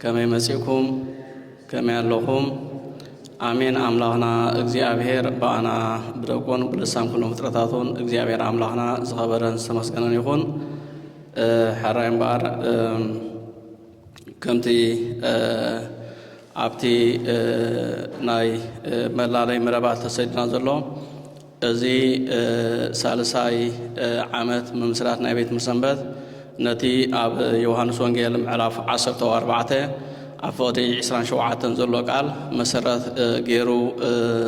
ከመይ መጺእኩም ከመይ ኣለኹም ኣሜን ኣምላኽና እግዚኣብሔር ብኣና ብደቁን ብልሳን ኩሎም ፍጥረታቱን እግዚኣብሔር ኣምላኽና ዝኸበረን ዝተመስገነን ይኹን ሕራይ እምበኣር ከምቲ ኣብቲ ናይ መላለይ መረባት ተሰድና ዘሎ እዚ ሳልሳይ ዓመት ምምስራት ናይ ቤት ምሰንበት ነቲ ኣብ ዮሃንስ ወንጌል ምዕራፍ ዓሰርተ ኣርባዕተ ኣብ ፍቕዲ ዕስራን ሸውዓተን ዘሎ ቃል መሰረት ገይሩ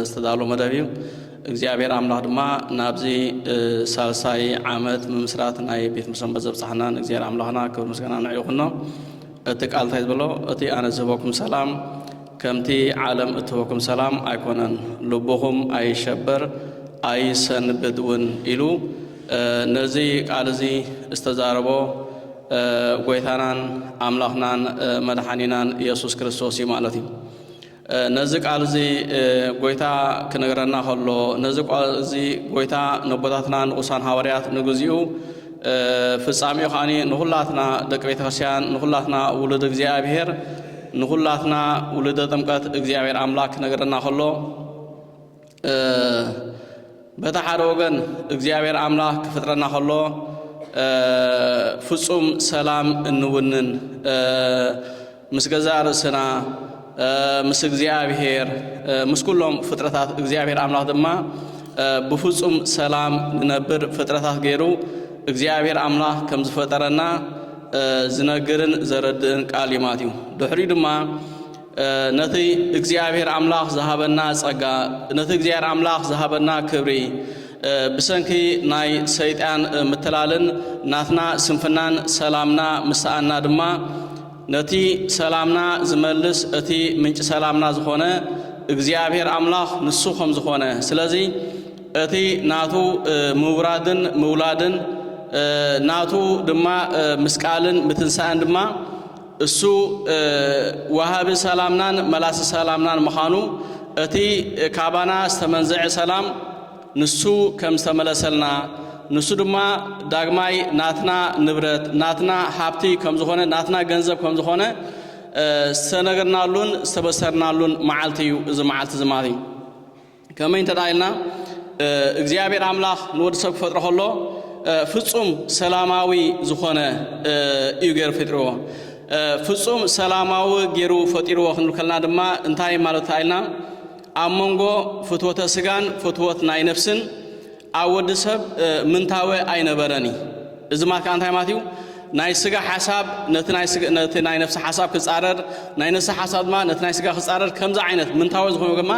ዝተዳሎ መደብ እዩ። እግዚኣብሔር ኣምላኽ ድማ ናብዚ ሳልሳይ ዓመት ምምስራት ናይ ቤት ምሰንበት ዘብጽሓና ንእግዚኣብሔር ኣምላኽና ክብር ምስጋና ንዕኡ ይኹኖ። እቲ ቃል እንታይ ዝበሎ እቲ ኣነ ዝህበኩም ሰላም ከምቲ ዓለም እትህበኩም ሰላም ኣይኮነን ልብኹም ኣይሸበር ኣይሰንብድ እውን ኢሉ ነዚ ቃል እዚ ዝተዛረቦ ጎይታናን ኣምላኽናን መድሓኒናን የሱስ ክርስቶስ እዩ ማለት እዩ። ነዚ ቃል እዚ ጎይታ ክነግረና ከሎ ነዚ ቃል እዚ ጎይታ ነቦታትና ንቁሳን ሃዋርያት ንግዚኡ ፍጻሜኡ ከዓኒ ንኹላትና ደቂ ቤተ ክርስቲያን ንኹላትና ውሉድ እግዚኣብሔር ንኹላትና ውሉደ ጥምቀት እግዚኣብሔር ኣምላክ ክነግረና ከሎ በታ ሓደ ወገን እግዚኣብሔር ኣምላኽ ክፍጥረና ከሎ ፍጹም ሰላም እንውንን ምስ ገዛ ርእስና ምስ እግዚኣብሔር ምስ ኩሎም ፍጥረታት እግዚኣብሔር ኣምላኽ ድማ ብፍጹም ሰላም ንነብር ፍጥረታት ገይሩ እግዚኣብሔር ኣምላኽ ከም ዝፈጠረና ዝነግርን ዘረድእን ቃል እዩ ማለት እዩ ድሕሪኡ ድማ ነቲ እግዚኣብሔር ኣምላኽ ዝሃበና ጸጋ ነቲ እግዚኣብሔር ኣምላኽ ዝሃበና ክብሪ ብሰንኪ ናይ ሰይጣን ምትላልን ናትና ስንፍናን ሰላምና ምሰኣና ድማ ነቲ ሰላምና ዝመልስ እቲ ምንጭ ሰላምና ዝኾነ እግዚኣብሔር ኣምላኽ ንሱ ከም ዝኾነ ስለዚ እቲ ናቱ ምውራድን ምውላድን ናቱ ድማ ምስቃልን ምትንሳእን ድማ እሱ ወሃቢ ሰላምናን መላሲ ሰላምናን ምዃኑ፣ እቲ ካባና ዝተመንዘዐ ሰላም ንሱ ከም ዝተመለሰልና፣ ንሱ ድማ ዳግማይ ናትና ንብረት፣ ናትና ሃብቲ ከም ዝኾነ፣ ናትና ገንዘብ ከም ዝኾነ ዝተነገርናሉን ዝተበሰርናሉን መዓልቲ እዩ እዚ መዓልቲ እዚ ማለት እዩ። ከመይ እንተ ደኣ ኢልና እግዚኣብሔር ኣምላኽ ንወዲ ሰብ ክፈጥሮ ከሎ ፍጹም ሰላማዊ ዝኾነ እዩ ገይሩ ፈጥርዎ። ፍጹም ሰላማዊ ገይሩ ፈጢርዎ ክንብል ከለና ድማ እንታይ ማለት ኢልና ኣብ መንጎ ፍትወተ ስጋን ፍትወት ናይ ነፍስን ኣብ ወዲ ሰብ ምንታወ ኣይነበረን እዪ። እዚ ማለት ከኣ እንታይ ማለት እዩ? ናይ ስጋ ሓሳብ ነቲ ናይ ነፍሲ ሓሳብ ክጻረር፣ ናይ ነፍሲ ሓሳብ ድማ ነቲ ናይ ስጋ ክጻረር፣ ከምዚ ዓይነት ምንታወ ዝኾነ ግማ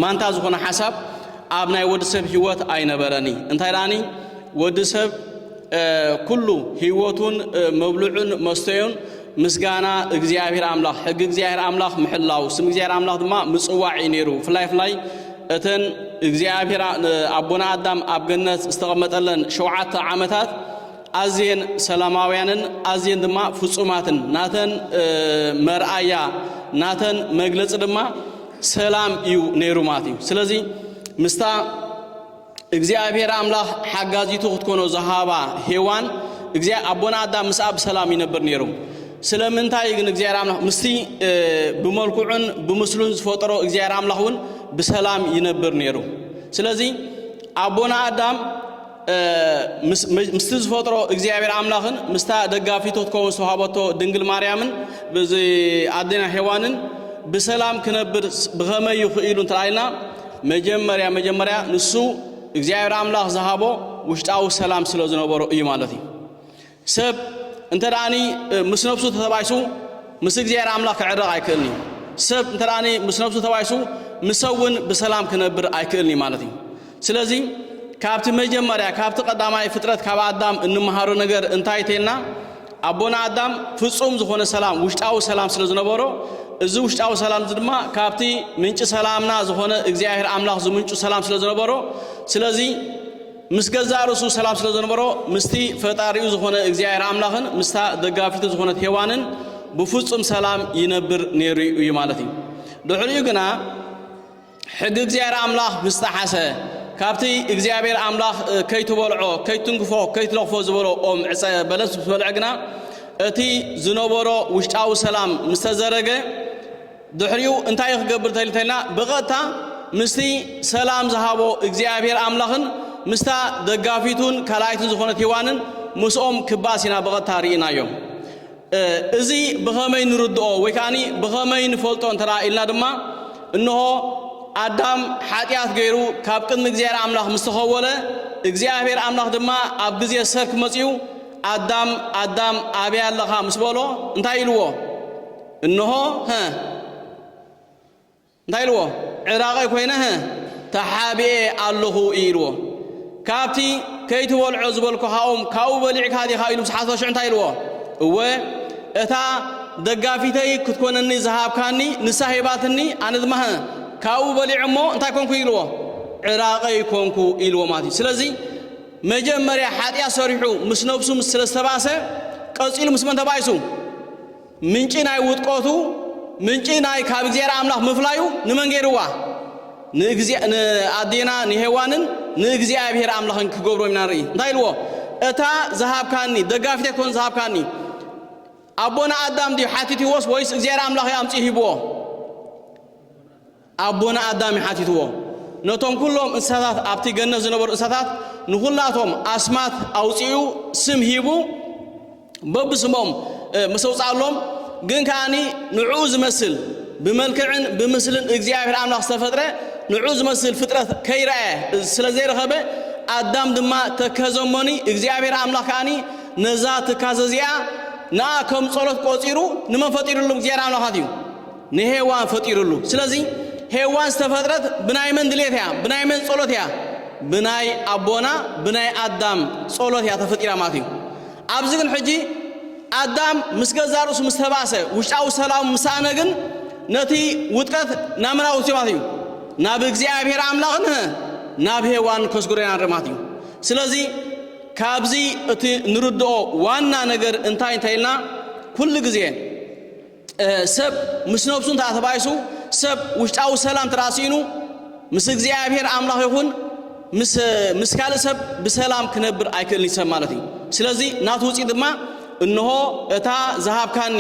ማንታ ዝኾነ ሓሳብ ኣብ ናይ ወዲ ሰብ ህይወት ኣይነበረን እዪ። እንታይ ደኣኒ ወዲ ሰብ ኩሉ ህይወቱን መብልዑን መስተዩን ምስጋና እግዚኣብሔር ኣምላኽ ሕጊ እግዚኣብሔር ኣምላኽ ምሕላው ስም እግዚኣብሔር ኣምላኽ ድማ ምጽዋዕ እዩ ነይሩ ፍላይ ፍላይ እተን እግዚኣብሔር ኣቦና ኣዳም ኣብ ገነት ዝተቐመጠለን ሸውዓተ ዓመታት ኣዝየን ሰላማውያንን ኣዝየን ድማ ፍጹማትን ናተን መርኣያ ናተን መግለጺ ድማ ሰላም እዩ ነይሩ ማለት እዩ ስለዚ ምስታ እግዚኣብሔር ኣምላኽ ሓጋዚቱ ክትኮኖ ዝሃባ ሄዋን እግዚኣብሔር ኣቦና ኣዳም ምስኣ ብሰላም ይነብር ነይሩ። ስለምንታይ ግን እግዚኣብሔር ኣምላኽ ምስቲ ብመልክዑን ብምስሉን ዝፈጠሮ እግዚኣብሔር ኣምላኽ እውን ብሰላም ይነብር ነይሩ። ስለዚ ኣቦና ኣዳም ምስቲ ዝፈጥሮ እግዚኣብሔር ኣምላኽን ምስታ ደጋፊቶ ትከውን ዝተዋሃበቶ ድንግል ማርያምን ኣዴና ሄዋንን ብሰላም ክነብር ብኸመይ ይኽእሉ እንተኢልና መጀመርያ መጀመርያ ንሱ እግዚኣብሔር ኣምላኽ ዝሃቦ ውሽጣዊ ሰላም ስለ ዝነበሮ እዩ ማለት እዩ ሰብ እንተ ደኣኒ ምስ ነብሱ ተተባይሱ ምስ እግዚኣብሔር ኣምላኽ ክዕረቕ ኣይክእልን እዩ ሰብ እንተ ደኣኒ ምስ ነብሱ ተባይሱ ምሰብ እውን ብሰላም ክነብር ኣይክእልን እዩ ማለት እዩ ስለዚ ካብቲ መጀመርያ ካብቲ ቀዳማይ ፍጥረት ካብ ኣዳም እንመሃሮ ነገር እንታይ ተልና ኣቦና ኣዳም ፍጹም ዝኾነ ሰላም ውሽጣዊ ሰላም ስለ ዝነበሮ እዚ ውሽጣዊ ሰላም እዚ ድማ ካብቲ ምንጪ ሰላምና ዝኾነ እግዚኣብሔር ኣምላኽ ዝምንጩ ሰላም ስለ ዝነበሮ ስለዚ ምስ ገዛእ ርእሱ ሰላም ስለ ዝነበሮ ምስቲ ፈጣሪኡ ዝኾነ እግዚኣብሔር ኣምላኽን ምስታ ደጋፊቱ ዝኾነት ሄዋንን ብፍጹም ሰላም ይነብር ነይሩ እዩ ማለት እዩ ድሕሪኡ ግና ሕጊ እግዚኣብሔር ኣምላኽ ምስ ጠሓሰ ካብቲ እግዚኣብሔር ኣምላኽ ከይትበልዖ ከይትንግፎ ከይትለኽፎ ዝበሎ ኦም ዕፀ በለስ ምስ በልዐ ግና እቲ ዝነበሮ ውሽጣዊ ሰላም ምስ ተዘረገ ድሕሪኡ እንታይ ክገብር ተልተልና ብቐጥታ ምስቲ ሰላም ዝሃቦ እግዚኣብሔር ኣምላኽን ምስታ ደጋፊቱን ካልኣይትን ዝኾነት ሂዋንን ምስኦም ክባስ ኢና ብቐጥታ ርኢናዮ እዚ ብኸመይ ንርድኦ ወይ ከኣኒ ብኸመይ ንፈልጦ እንተ ኢልና ድማ እንሆ ኣዳም ሓጢኣት ገይሩ ካብ ቅድሚ እግዚኣብሔር ኣምላኽ ምስ ተኸወለ እግዚኣብሔር ኣምላኽ ድማ ኣብ ግዜ ሰርክ መጺኡ ኣዳም ኣዳም ኣበይ ኣለኻ ምስ በሎ እንታይ ኢልዎ እንሆ እንታይ ኢልዎ ዕራቐይ ኮይነ ሀ ተሓቢኤ ኣለኹ እዩ ኢልዎ ካብቲ ከይትበልዖ ዝበልኩኻ ኦም ካብኡ በሊዕካ ዲኻ ኢሉ ምስ ሓተቶ ሽዑ እንታይ ኢልዎ እወ እታ ደጋፊተይ ክትኮነኒ ዝሃብካኒ ንሳ ሂባትኒ ኣነ ድማ ሀ ካብኡ በሊዐ እሞ እንታይ ኮንኩ ኢልዎ ዕራቐይ ኮንኩ ኢልዎ ማለት እዩ ስለዚ መጀመርያ ሓጢኣት ሰሪሑ ምስ ነብሱ ምስ ስለ ዝተባእሰ ቀጺሉ ምስ መን ተባኢሱ ምንጪ ናይ ውድቆቱ ምንጪ ናይ ካብ እግዚኣብሔር ኣምላኽ ምፍላዩ ንመን ገይርዋ? ንኣዴና ንሄዋንን ንእግዚኣብሔር ኣምላኽን ክገብሮም ኢና ንርኢ። እንታይ ኢልዎ? እታ ዝሃብካኒ ደጋፊተይ ኮን ዝሃብካኒ ኣቦና ኣዳም ድዩ ሓቲትዎስ ወይስ እግዚኣብሔር ኣምላኽ እዩ ኣምጺኡ ሂብዎ? ኣቦና ኣዳም እዩ ሓቲትዎ። ነቶም ኩሎም እንስሳታት ኣብቲ ገነት ዝነበሩ እንስሳታት ንኹላቶም ኣስማት ኣውጺኡ ስም ሂቡ በብስሞም ምስ ኣውጽኣሎም ግን ከኣኒ ንዕኡ ዝመስል ብመልክዕን ብምስልን እግዚኣብሔር ኣምላኽ ዝተፈጥረ ንዕኡ ዝመስል ፍጥረት ከይረኣየ ስለ ዘይረኸበ ኣዳም ድማ ተከዘ እሞኒ እግዚኣብሔር ኣምላኽ ከኣኒ ነዛ ትካዘ እዚኣ ንኣ ከም ጸሎት ቆጺሩ ንመን ፈጢርሎም እግዚኣብሔር ኣምላኻት እዩ ንሄዋን ፈጢሩሉ ስለዚ ሄዋን ዝተፈጥረት ብናይ መን ድሌት እያ ብናይ መን ጸሎት እያ ብናይ ኣቦና ብናይ ኣዳም ጸሎት እያ ተፈጢራ ማለት እዩ ኣብዚ ግን ሕጂ ኣዳም ምስ ገዛ ርእሱ ምስ ተባእሰ ውሽጣዊ ሰላም ምሳእነ ግን ነቲ ውጥረት ናመና ወስዮ ማለት እዩ ናብ እግዚኣብሔር ኣምላኽን ናብ ሄዋን ከስጉረና ንርኢ ማለት እዩ ስለዚ ካብዚ እቲ ንርድኦ ዋና ነገር እንታይ እንታይ ኢልና ኩሉ ግዜ ሰብ ምስ ነብሱ እንተ ተባኢሱ፣ ሰብ ውሽጣዊ ሰላም እንተ ስኢኑ፣ ምስ እግዚኣብሔር ኣምላኽ ይኹን ምስ ምስ ካልእ ሰብ ብሰላም ክነብር ኣይክእልን ሰብ ማለት እዩ። ስለዚ ናቱ ውጽኢት ድማ እንሆ እታ ዝሃብካኒ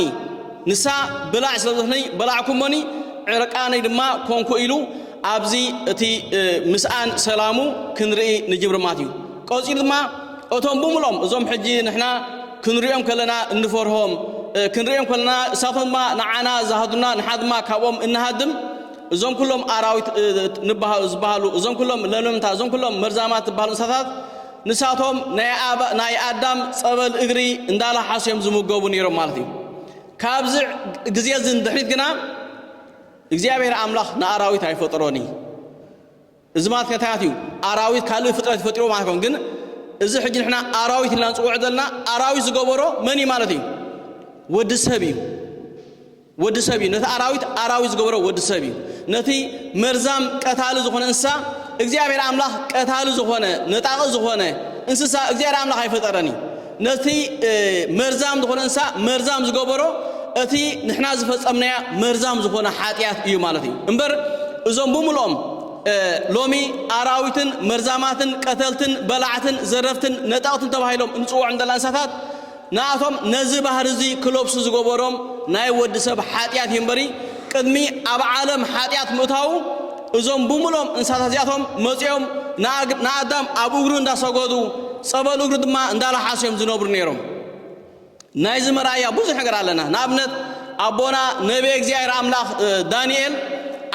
ንሳ ብላዕ ስለ ዝበለኒ በላዕኩሞኒ ዕርቃነይ ድማ ኮንኩ ኢሉ ኣብዚ እቲ ምስኣን ሰላሙ ክንርኢ ንጅብሪ ማለት እዩ። ቀጺሉ ድማ እቶም ብምሎም እዞም ሕጂ ንሕና ክንሪኦም ከለና እንፈርሆም ክንሪኦም ከለና እሳቶም ድማ ንዓና ዝሃዱና ንሓ ድማ ካብኦም እንሃድም እዞም ኩሎም ኣራዊት ዝበሃሉ እዞም ኩሎም ለምለምታ እዞም ኩሎም መርዛማት ዝበሃሉ እንስሳታት ንሳቶም ናይ ኣዳም ጸበል እግሪ እንዳላሓሱ እዮም ዝምገቡ ነይሮም ማለት እዩ ካብዚ ግዜ እዚ ንድሕሪት ግና እግዚኣብሔር ኣምላኽ ንኣራዊት ኣይፈጠሮን እዩ እዚ ማለት ከታያት እዩ ኣራዊት ካልእ ፍጥረት ይፈጥርዎ ማለት ኣይኮን ግን እዚ ሕጂ ንሕና ኣራዊት ኢልና ንጽውዕ ዘለና ኣራዊት ዝገበሮ መን እዩ ማለት እዩ ወዲ ሰብ እዩ ወዲ ሰብ እዩ ነቲ ኣራዊት ኣራዊት ዝገበሮ ወዲ ሰብ እዩ ነቲ መርዛም ቀታሊ ዝኾነ እንስሳ እግዚኣብሔር ኣምላኽ ቀታሊ ዝኾነ ነጣቒ ዝኾነ እንስሳ እግዚኣብሔር ኣምላኽ ኣይፈጠረን እዩ ነቲ መርዛም ዝኾነ እንስሳ መርዛም ዝገበሮ እቲ ንሕና ዝፈጸምናያ መርዛም ዝኾነ ሓጢኣት እዩ ማለት እዩ እምበር እዞም ብምልኦም ሎሚ ኣራዊትን መርዛማትን ቀተልትን በላዕትን ዘረፍትን ነጠቕትን ተባሂሎም እንጽውዖም ዘለና እንስሳታት ንኣቶም ነዚ ባህሪ እዚ ክለብሱ ዝገበሮም ናይ ወዲ ሰብ ሓጢኣት እዩ እምበሪ ቅድሚ ኣብ ዓለም ሓጢኣት ምእታዉ እዞም ብምሉኦም እንስሳታት እዚኣቶም መጺኦም ንኣዳም ኣብ እግሩ እንዳ ሰገዱ ጸበል እግሩ ድማ እንዳ ላሓሱ እዮም ዝነብሩ ነይሮም። ናይዚ መርኣያ ብዙሕ ነገር ኣለና። ንኣብነት ኣቦና ነብየ እግዚኣብሔር ኣምላኽ ዳንኤል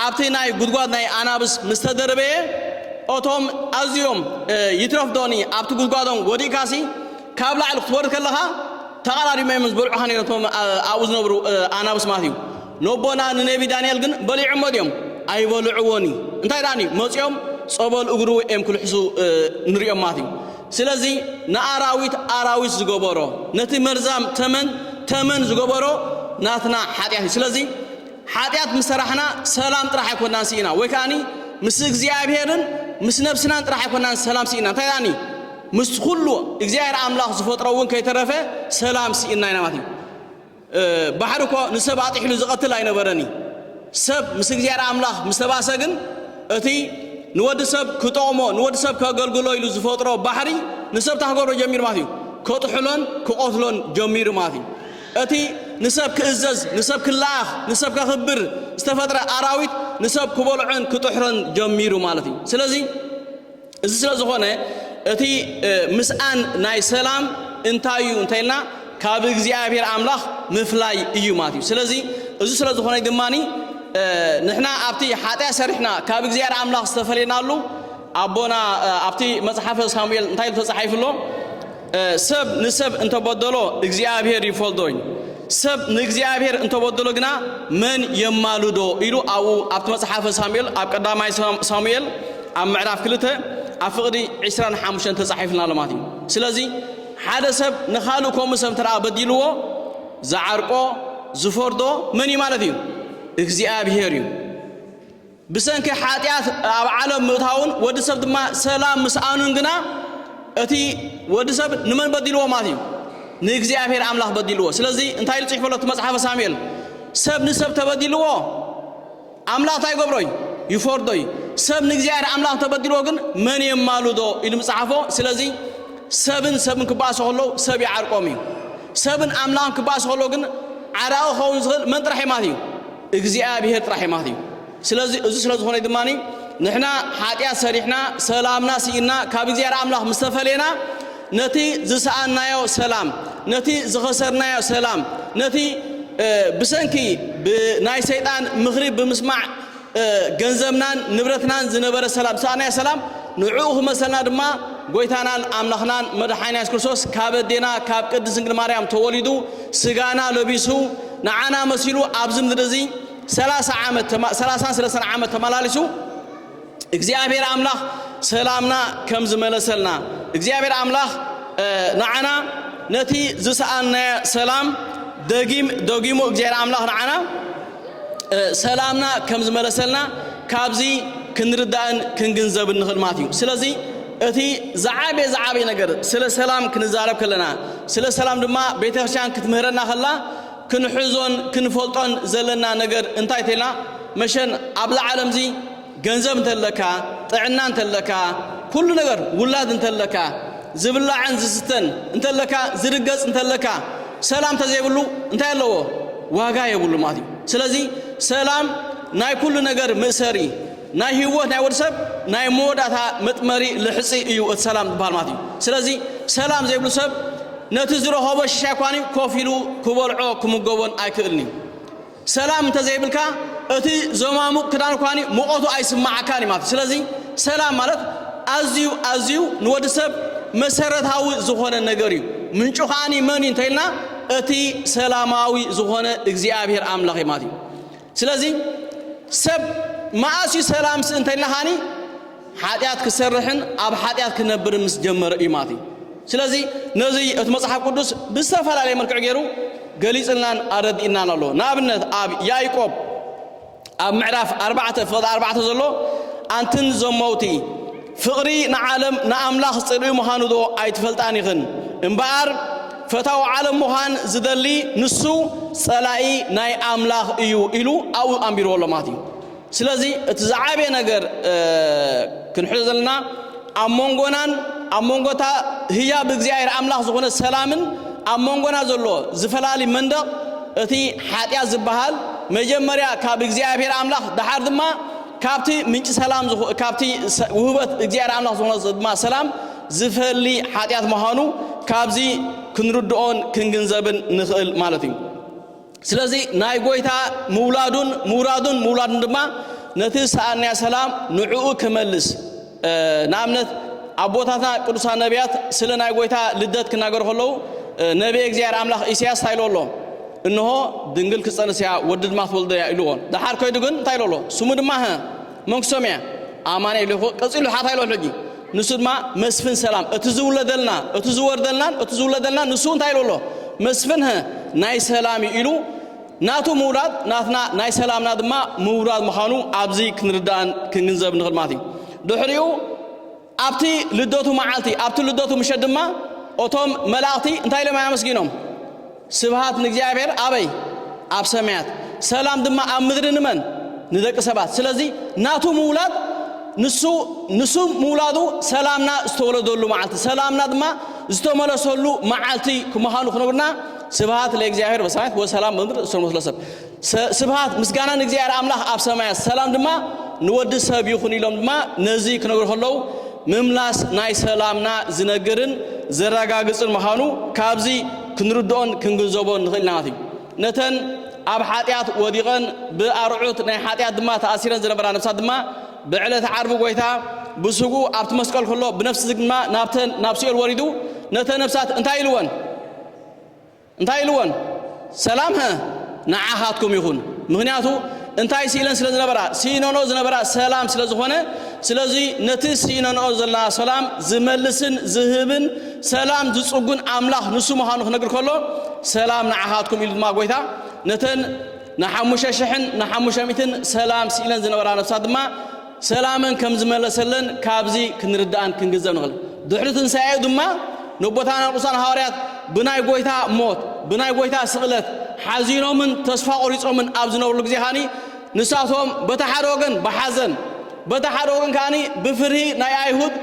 ኣብቲ ናይ ጉድጓድ ናይ ኣናብስ ምስ ተደርበየ እቶም ኣዝዮም ይትረፍ ዶኒ ኣብቲ ጉድጓዶም ወዲእካሲ ካብ ላዕሊ ክትወርድ ከለኻ ተቐዳዲሞም እዮም ዝበልዑኻ ነይሮም እቶም ኣብኡ ዝነብሩ ኣናብስ ማለት እዩ። ነቦና ንነቢ ዳንኤል ግን በሊዖሞ ድዮም? ኣይበልዕዎን እዩ። እንታይ ደኣን እዩ? መጺኦም ጸበል እግሩ እዮም ክልሕሱ ንሪኦም ማለት እዩ። ስለዚ ንኣራዊት ኣራዊት ዝገበሮ ነቲ መርዛም ተመን ተመን ዝገበሮ ናትና ሓጢኣት እዩ። ስለዚ ሓጢኣት ምስ ሰራሕና ሰላም ጥራሕ ኣይኮናን ስኢና ወይ ከኣኒ ምስ እግዚኣብሔርን ምስ ነብስናን ጥራሕ ኣይኮናን ሰላም ስኢና እንታይ ደኣን እዩ ምስ ኩሉ እግዚኣብሔር ኣምላኽ ዝፈጥሮ እውን ከይተረፈ ሰላም ስኢና ኢና ማለት እዩ ባሕሪ እኮ ንሰብ ኣጢሕሉ ዝቐትል ኣይነበረን እዩ። ሰብ ምስ እግዚኣብሔር ኣምላኽ ምስ ተባእሰ ግን እቲ ንወዲ ሰብ ክጠቕሞ ንወዲ ሰብ ከገልግሎ ኢሉ ዝፈጥሮ ባሕሪ ንሰብ እንታይ ክገብሮ ጀሚሩ ማለት እዩ ከጥሕሎን ክቐትሎን ጀሚሩ ማለት እዩ። እቲ ንሰብ ክእዘዝ ንሰብ ክለኣኽ ንሰብ ከኽብር ዝተፈጥረ ኣራዊት ንሰብ ክበልዖን ክጥሕሮን ጀሚሩ ማለት እዩ። ስለዚ እዚ ስለ ዝኾነ እቲ ምስኣን ናይ ሰላም እንታይ እዩ እንተይልና ካብ እግዚኣብሔር ኣምላኽ ምፍላይ እዩ ማለት እዩ። ስለዚ እዚ ስለ ዝኾነ ድማ ንሕና ኣብቲ ሓጢያ ሰሪሕና ካብ እግዚኣብሔር ኣምላኽ ዝተፈለናሉ ኣቦና ኣብቲ መጽሓፈ ሳሙኤል እንታይ ኢሉ ተጻሒፉ ኣሎ? ሰብ ንሰብ እንተበደሎ እግዚኣብሔር ይፈልጦ እዩ፣ ሰብ ንእግዚኣብሔር እንተበደሎ ግና መን የማልዶ ኢሉ ኣብኡ ኣብቲ መጽሓፈ ሳሙኤል ኣብ ቀዳማይ ሳሙኤል ኣብ ምዕራፍ ክልተ ኣብ ፍቕዲ ዕስራን ሓሙሽተን ተጻሒፍልና ኣሎ ማለት እዩ። ስለዚ ሓደ ሰብ ንኻልእ ከምኡ ሰብ እንተ በዲልዎ ዝዓርቆ ዝፈርዶ መን እዩ ማለት እዩ? እግዚኣብሔር እዩ። ብሰንኪ ሓጢኣት ኣብ ዓለም ምእታዉን ወዲ ሰብ ድማ ሰላም ምስኣኑን ግና እቲ ወዲ ሰብ ንመን በዲልዎ ማለት እዩ? ንእግዚኣብሔር ኣምላኽ በዲልዎ። ስለዚ እንታይ ኢሉ ጽሒፉ ኣሎ እቲ መጽሓፈ ሳሙኤል? ሰብ ንሰብ ተበዲልዎ ኣምላኽ እንታይ ይገብሮ እዩ? ይፈርዶ እዩ። ሰብ ንእግዚኣብሔር ኣምላኽ ተበዲልዎ ግን መን የማልዶ ኢሉ ምጽሓፎ። ስለዚ ሰብን ሰብን ክበኣሱ ከለዉ ሰብ ይዓርቆም እዩ። ሰብን ኣምላኽን ክበኣሱ ከለዉ ግን ዓራቂ ክኸውን ዝኽእል መን ጥራሕ እዩ ማለት እዩ? እግዚኣብሔር ጥራሕ የማት እዩ ስለዚ እዚ ስለ ዝኾነ ድማ ንሕና ሓጢኣት ሰሪሕና ሰላምና ስኢና ካብ እግዚኣብሔር ኣምላኽ ምስ ተፈለየና ነቲ ዝሰኣናዮ ሰላም ነቲ ዝኸሰርናዮ ሰላም ነቲ ብሰንኪ ብናይ ሰይጣን ምኽሪ ብምስማዕ ገንዘብናን ንብረትናን ዝነበረ ሰላም ዝሰኣናዮ ሰላም ንዕኡ ክመሰልና ድማ ጎይታናን ኣምላኽናን መድሓኒና የሱስ ክርስቶስ ካብ ኣዴና ካብ ቅድስት ድንግል ማርያም ተወሊዱ ስጋና ለቢሱ ንዓና መሲሉ ኣብዚ ምድሪ እዚ ሰላሳ ዓመት ተማ- ሰላሳን ሰለስተን ዓመት ተመላሊሱ እግዚኣብሔር ኣምላኽ ሰላምና ከም ዝመለሰልና እግዚኣብሔር ኣምላኽ እ፣ ንዓና ነቲ ዝሰኣናዮ ሰላም ደጊም ደጊሙ እግዚኣብሔር ኣምላኽ ንዓና እ፣ ሰላምና ከም ዝመለሰልና ካብዚ ክንርዳእን ክንግንዘብን ንኽእል ማለት እዩ ስለዚ እቲ ዝዓበየ ዝዓበየ ነገር ስለ ሰላም ክንዛረብ ከለና ስለ ሰላም ድማ ቤተ ክርስቲያን ክትምህረና ከላ ክንሕዞን ክንፈልጦን ዘለና ነገር እንታይ ተይልና መሸን ኣብዛ ዓለምዚ ገንዘብ እንተለካ ጥዕና እንተለካ ኩሉ ነገር ውላድ እንተለካ ዝብላዕን ዝስተን እንተለካ ዝርገጽ እንተለካ ሰላም እንተዘይብሉ እንታይ ኣለዎ ዋጋ የብሉ ማለት እዩ ስለዚ ሰላም ናይ ኩሉ ነገር ምእሰሪ ናይ ሂወት ናይ ወድ ሰብ ናይ መወዳእታ መጥመሪ ልሕጺ እዩ እቲ ሰላም ዝበሃል ማለት እዩ ስለዚ ሰላም ዘይብሉ ሰብ ነቲ ዝረኸቦ ሽሻይ ኳን እዩ ኮፍ ኢሉ ክበልዖ ክምገቦን ኣይክእልን እዩ ሰላም እንተዘይብልካ እቲ ዘማሙቕ ክዳን ኳን እዩ ሙቐቱ ኣይስማዓካን እዩ ማለት ስለዚ ሰላም ማለት ኣዝዩ ኣዝዩ ንወድ ሰብ መሰረታዊ ዝኾነ ነገር እዩ ምንጩ ከዓኒ መን እዩ እንተኢልና እቲ ሰላማዊ ዝኾነ እግዚኣብሔር ኣምላኽ እዩ ማለት እዩ ስለዚ ሰብ መኣስ እዩ ሰላም ስ እንተ ኢልናኻኒ ሓጢኣት ክሰርሕን ኣብ ሓጢኣት ክነብርን ምስ ጀመረ እዩ ማለት እዩ ስለዚ ነዚ እቲ መጽሓፍ ቅዱስ ብዝተፈላለየ መልክዕ ገይሩ ገሊጽልናን ኣረዲእናን ኣሎ ንኣብነት ኣብ ያይቆብ ኣብ ምዕራፍ ኣርባዕተ ፍቕዲ ኣርባዕተ ዘሎ ኣንትን ዘመውቲ ፍቕሪ ንዓለም ንኣምላኽ ጽልኢ ምዃኑዶ ኣይትፈልጣን ኢኽን? እምበኣር ፈታው ዓለም ምዃን ዝደሊ ንሱ ጸላኢ ናይ ኣምላኽ እዩ ኢሉ ኣብኡ ኣንቢርዎ ኣሎ ማለት እዩ። ስለዚ እቲ ዝዓበየ ነገር ክንሕዞ ዘለና ኣብ መንጎናን ኣብ መንጎ እታ ህያብ እግዚኣብሔር ኣምላኽ ዝኾነት ሰላምን ኣብ መንጎና ዘሎ ዝፈላሊ መንደቕ እቲ ሓጢኣት ዝበሃል መጀመርያ ካብ እግዚኣብሔር ኣምላኽ ደሓር ድማ ካብቲ ምንጪ ሰላም ዝኹ ካብቲ ሰ ውህበት እግዚኣብሔር ኣምላኽ ዝኾነ ዝ ድማ ሰላም ዝፈሊ ሓጢኣት ምዃኑ ካብዚ ክንርድኦን ክንግንዘብን ንኽእል ማለት እዩ። ስለዚ ናይ ጐይታ ምውላዱን ምውራዱን ምውላዱን ድማ ነቲ ዝሰኣንናዮ ሰላም ንዕኡ ክመልስ ንኣብነት ኣቦታትና ቅዱሳን ነቢያት ስለ ናይ ጎይታ ልደት ክናገሩ ከለዉ ነቢየ እግዚኣብሔር ኣምላኽ ኢሳያስ እንታይ ኢሎ ኣሎ እንሆ ድንግል ክጸንስ እያ ወዲ ድማ ክትወልዶ እያ ኢልዎ ደሓር ከይዱ ግን እንታይ ኢሎ ኣሎ ስሙ ድማ ህ መንግስቶም እያ ኣማነ ኢሉ ቀጺሉ ሓ እንታይ ኢሎ ኣሎ ሕጂ ንሱ ድማ መስፍን ሰላም እቲ ዝውለደልና እቲ ዝወርደልናን እቲ ዝውለደልናን ንሱ እንታይ ኢሉ ኣሎ መስፍን ናይ ሰላም ኢሉ ናቱ ምውራድ ናትና ናይ ሰላምና ድማ ምውራድ ምዃኑ ኣብዚ ክንርዳእን ክንግንዘብ ንኽእል ማለት እዩ። ድሕሪኡ ኣብቲ ልደቱ መዓልቲ ኣብቲ ልደቱ ምሸት ድማ እቶም መላእኽቲ እንታይ ኢሎም ኣመስጊኖም? ስብሃት ንእግዚኣብሔር ኣበይ? ኣብ ሰማያት ሰላም ድማ ኣብ ምድሪ ንመን? ንደቂ ሰባት። ስለዚ ናቱ ምውላድ ንሱ ንሱ ምውላዱ ሰላምና ዝተወለደሉ መዓልቲ ሰላምና ድማ ዝተመለሰሉ መዓልቲ ምዃኑ ክነብርና ስብሃት ለእግዚኣብሔር በሰማያት ወሰላም በምድር እሱር መስሎ ሰብ ስብሃት ምስጋና ንእግዚኣብሔር ኣምላኽ ኣብ ሰማያት ሰላም ድማ ንወዲ ሰብ ይኹን ኢሎም ድማ ነዚ ክነግሩ ከለዉ ምምላስ ናይ ሰላምና ዝነግርን ዘረጋግፅን ምዃኑ ካብዚ ክንርድኦን ክንግንዘቦን ንኽእል ናት እዩ ነተን ኣብ ሓጢኣት ወዲቐን ብኣርዑት ናይ ሓጢኣት ድማ ተኣሲረን ዝነበራ ነብሳት ድማ ብዕለት ዓርቢ ጎይታ ብስጉ ኣብቲ መስቀል ከሎ ብነፍሲ ድማ ናብተን ናብ ሲኦል ወሪዱ ነተን ነብሳት እንታይ ኢልወን እንታይ ኢልወን ሰላም ሀ ንዓኻትኩም ይኹን ምክንያቱ እንታይ ስኢለን ስለ ዝነበራ ስኢነንኦ ዝነበራ ሰላም ስለ ዝኾነ ስለዚ ነቲ ስኢነንኦ ዘለና ሰላም ዝመልስን ዝህብን ሰላም ዝጽጉን ኣምላኽ ንሱ ምዃኑ ክነግር ከሎ ሰላም ንዓኻትኩም ኢሉ ድማ ጎይታ ነተን ንሓሙሽተ ሽሕን ንሓሙሽተ ሚእትን ሰላም ስኢለን ዝነበራ ነፍሳት ድማ ሰላመን ከም ዝመለሰለን ካብዚ ክንርዳእን ክንግንዘብ ንኽእል። ድሕሪ ትንሳኤኡ ድማ ነቦታትና ቅዱሳን ሃዋርያት ብናይ ጎይታ ሞት ብናይ ጎይታ ስቕለት ሓዚኖምን ተስፋ ቆሪጾምን ኣብ ዝነብርሉ ግዜ ካኒ ንሳቶም በታ ሓደ ወገን ብሓዘን በታ ሓደ ወገን ካኒ ብፍርሂ ናይ ኣይሁድ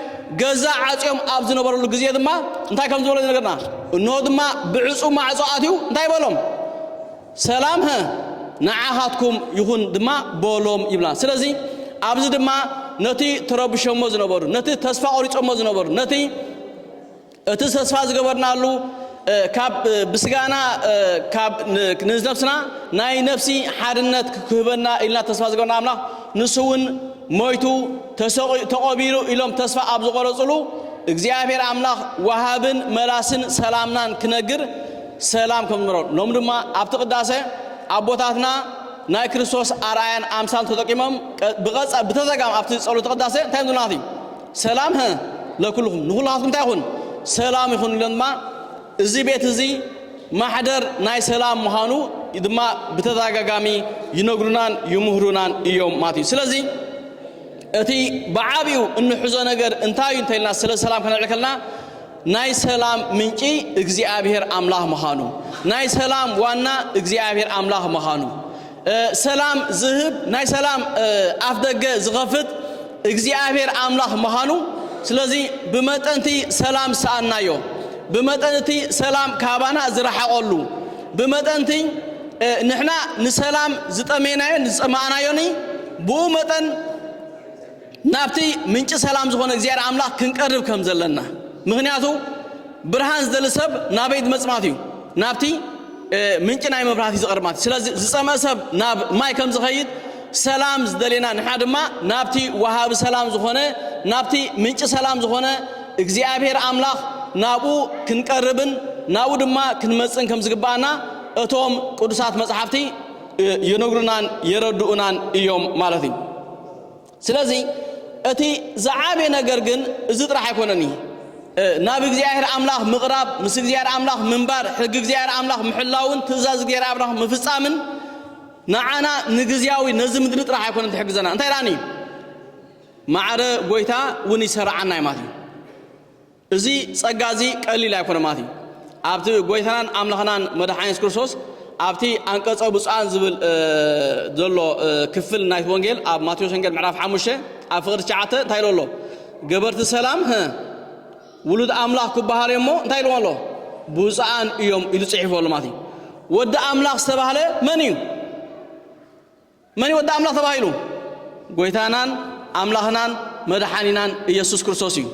ገዛ ዓጽዮም ኣብ ዝነበረሉ ግዜ ድማ እንታይ ከም ዝበሎ ዝነገርና እንሆ ድማ ብዕጹ ማዕጾ ኣትዩ እንታይ በሎም ሰላም ሀ ንዓኻትኩም ይኹን ድማ በሎም ይብላ። ስለዚ ኣብዚ ድማ ነቲ ተረብሾሞ ዝነበሩ፣ ነቲ ተስፋ ቆሪጾሞ ዝነበሩ፣ ነቲ እቲ ተስፋ ዝገበርናሉ ካብ ብስጋና ካብ ንነብስና ናይ ነፍሲ ሓድነት ክህበና ኢልና ተስፋ ዝገበርና ኣምላኽ ንሱ እውን ሞይቱ ተሰቒ ተቖቢሩ ኢሎም ተስፋ ኣብ ዝቆረጽሉ እግዚኣብሔር ኣምላኽ ወሃብን መላስን ሰላምናን ክነግር ሰላም ከም ዝነበሮም ሎሚ ድማ ኣብቲ ቅዳሴ ኣቦታትና ናይ ክርስቶስ ኣርኣያን ኣምሳል ተጠቂሞም ብቐጻ ብተዘጋም ኣብቲ ጸሎተ ቅዳሴ እንታይ ምናት እዩ ሰላም ህ ለኩልኹም ንኹላትኩም እንታይ ይኹን ሰላም ይኹን ኢሎም ድማ እዚ ቤት እዚ ማሕደር ናይ ሰላም ምዃኑ ድማ ብተደጋጋሚ ይነግሩናን ይምህሩናን እዮም ማለት እዩ ስለዚ እቲ ብዓብኡ እንሕዞ ነገር እንታይ እዩ እንተልና ስለ ሰላም ከነልዕል ከለና ናይ ሰላም ምንጪ እግዚኣብሔር ኣምላኽ ምዃኑ፣ ናይ ሰላም ዋና እግዚኣብሔር ኣምላኽ ምዃኑ፣ ሰላም ዝህብ ናይ ሰላም ኣፍ ደገ ዝኸፍት እግዚኣብሔር ኣምላኽ ምዃኑ፣ ስለዚ ብመጠንቲ ሰላም ዝሰኣናዮ፣ ብመጠንቲ ሰላም ካባና ዝረሓቐሉ፣ ብመጠንቲ ንሕና ንሰላም ዝጠሜናዮን ዝጸማእናዮን ብኡ መጠን ናብቲ ምንጪ ሰላም ዝኾነ እግዚኣብሔር ኣምላኽ ክንቀርብ ከም ዘለና ምኽንያቱ ብርሃን ዝደሊ ሰብ ናበይ ዝመጽማት እዩ ናብቲ ምንጪ ናይ መብራህቲ ዝቐርብ ማለት ስለዚ ዝጸምአ ሰብ ናብ ማይ ከም ዝኸይድ ሰላም ዝደሌና ንሕና ድማ ናብቲ ወሃቢ ሰላም ዝኾነ ናብቲ ምንጪ ሰላም ዝኾነ እግዚኣብሔር ኣምላኽ ናብኡ ክንቀርብን ናብኡ ድማ ክንመጽን ከም ዝግባኣና እቶም ቅዱሳት መጽሓፍቲ ይነግሩናን የረድኡናን እዮም ማለት እዩ ስለዚ እቲ ዝዓበየ ነገር ግን እዚ ጥራሕ ኣይኮነን እዩ። ናብ እግዚኣብሔር ኣምላኽ ምቕራብ፣ ምስ እግዚኣብሔር ኣምላኽ ምንባር፣ ሕጊ እግዚኣብሔር ኣምላኽ ምሕላውን ትእዛዝ እግዚኣብሔር ኣምላኽ ምፍጻምን ንዓና ንግዝያዊ ነዚ ምድሪ ጥራሕ ኣይኮነን ትሕግዘና። እንታይ ደኣኒ ማዕረ ጎይታ እውን ይሰርዓና እዩ ማለት እዩ። እዚ ጸጋ እዚ ቀሊል ኣይኮነ ማለት እዩ። ኣብቲ ጎይታናን ኣምላኽናን መድሓኒ የሱስ ክርስቶስ ኣብቲ ኣንቀጸ ብፁዓን ዝብል ዘሎ ክፍል ናይቲ ወንጌል ኣብ ማቴዎስ ወንጌል ምዕራፍ ሓሙሽተ ኣብ ፍቕሪ ትሽዓተ እንታይ ኢሎ ኣሎ ገበርቲ ሰላም ህ ውሉድ ኣምላኽ ክበሃሉ እሞ እንታይ ኢልዎ ኣሎ ብፁዓን እዮም ኢሉ ጽሒፉ ኣሎ ማለት እዩ። ወዲ ኣምላኽ ዝተባህለ መን እዩ? መን እዩ ወዲ ኣምላኽ ተባሂሉ? ጐይታናን ኣምላኽናን መድሓኒናን ኢየሱስ ክርስቶስ እዩ።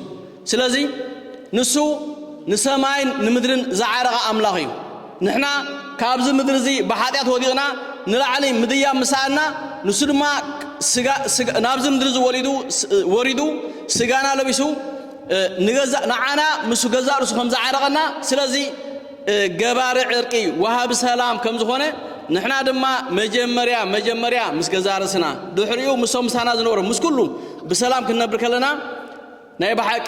ስለዚ ንሱ ንሰማይን ንምድርን ዝዓረቐ ኣምላኽ እዩ። ንሕና ካብዚ ምድሪ እዚ ብሓጢኣት ወዲቕና ንላዕሊ ምድያብ ምስ ሰኣንና ንሱ ድማ ስጋ ናብዚ ምድሪ እዚ ወሊዱ ወሪዱ ስጋና ለቢሱ ንገዛእ ንዓና ምስ ገዛእ ርእሱ ከም ዝዓረቐና ስለዚ ገባሪ ዕርቂ ወሃቢ ሰላም ከም ዝኾነ ንሕና ድማ መጀመርያ መጀመርያ ምስ ገዛ ርእስና ድሕሪኡ ምሶም ምሳና ዝነበሩ ምስ ኩሉ ብሰላም ክንነብር ከለና ናይ ብሓቂ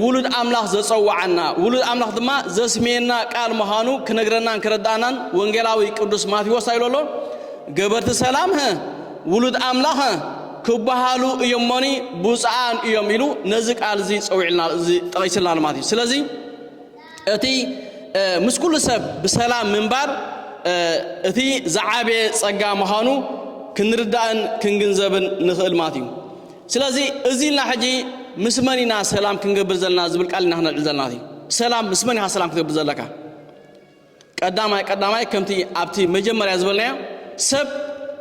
ውሉድ ኣምላኽ ዘጸዋዓና ውሉድ ኣምላኽ ድማ ዘስሜና ቃል ምዃኑ ክነግረናን ክረዳእናን ወንጌላዊ ቅዱስ ማቴዎስ ኣይሎ ኣሎ ገበርቲ ሰላም ሀ ውሉድ ኣምላኽ ክበሃሉ እዮሞኒ ብፁዓን እዮም ኢሉ ነዚ ቃል እዚ ጸዊዕልና እዚ ጠቒስልና ማለት እዩ ስለዚ እቲ ምስ ኩሉ ሰብ ብሰላም ምንባር እቲ ዝዓበየ ጸጋ ምዃኑ ክንርዳእን ክንግንዘብን ንኽእል ማለት እዩ። ስለዚ እዚ ኢልና ሕጂ ምስ መን ኢና ሰላም ክንገብር ዘለና ዝብል ቃል ኢና ክነልዕል ዘለና ማለት እዩ። ሰላም ምስ መን ኢኻ ሰላም ክትገብር ዘለካ? ቀዳማይ ቀዳማይ ከምቲ ኣብቲ መጀመርያ ዝበልናዮ ሰብ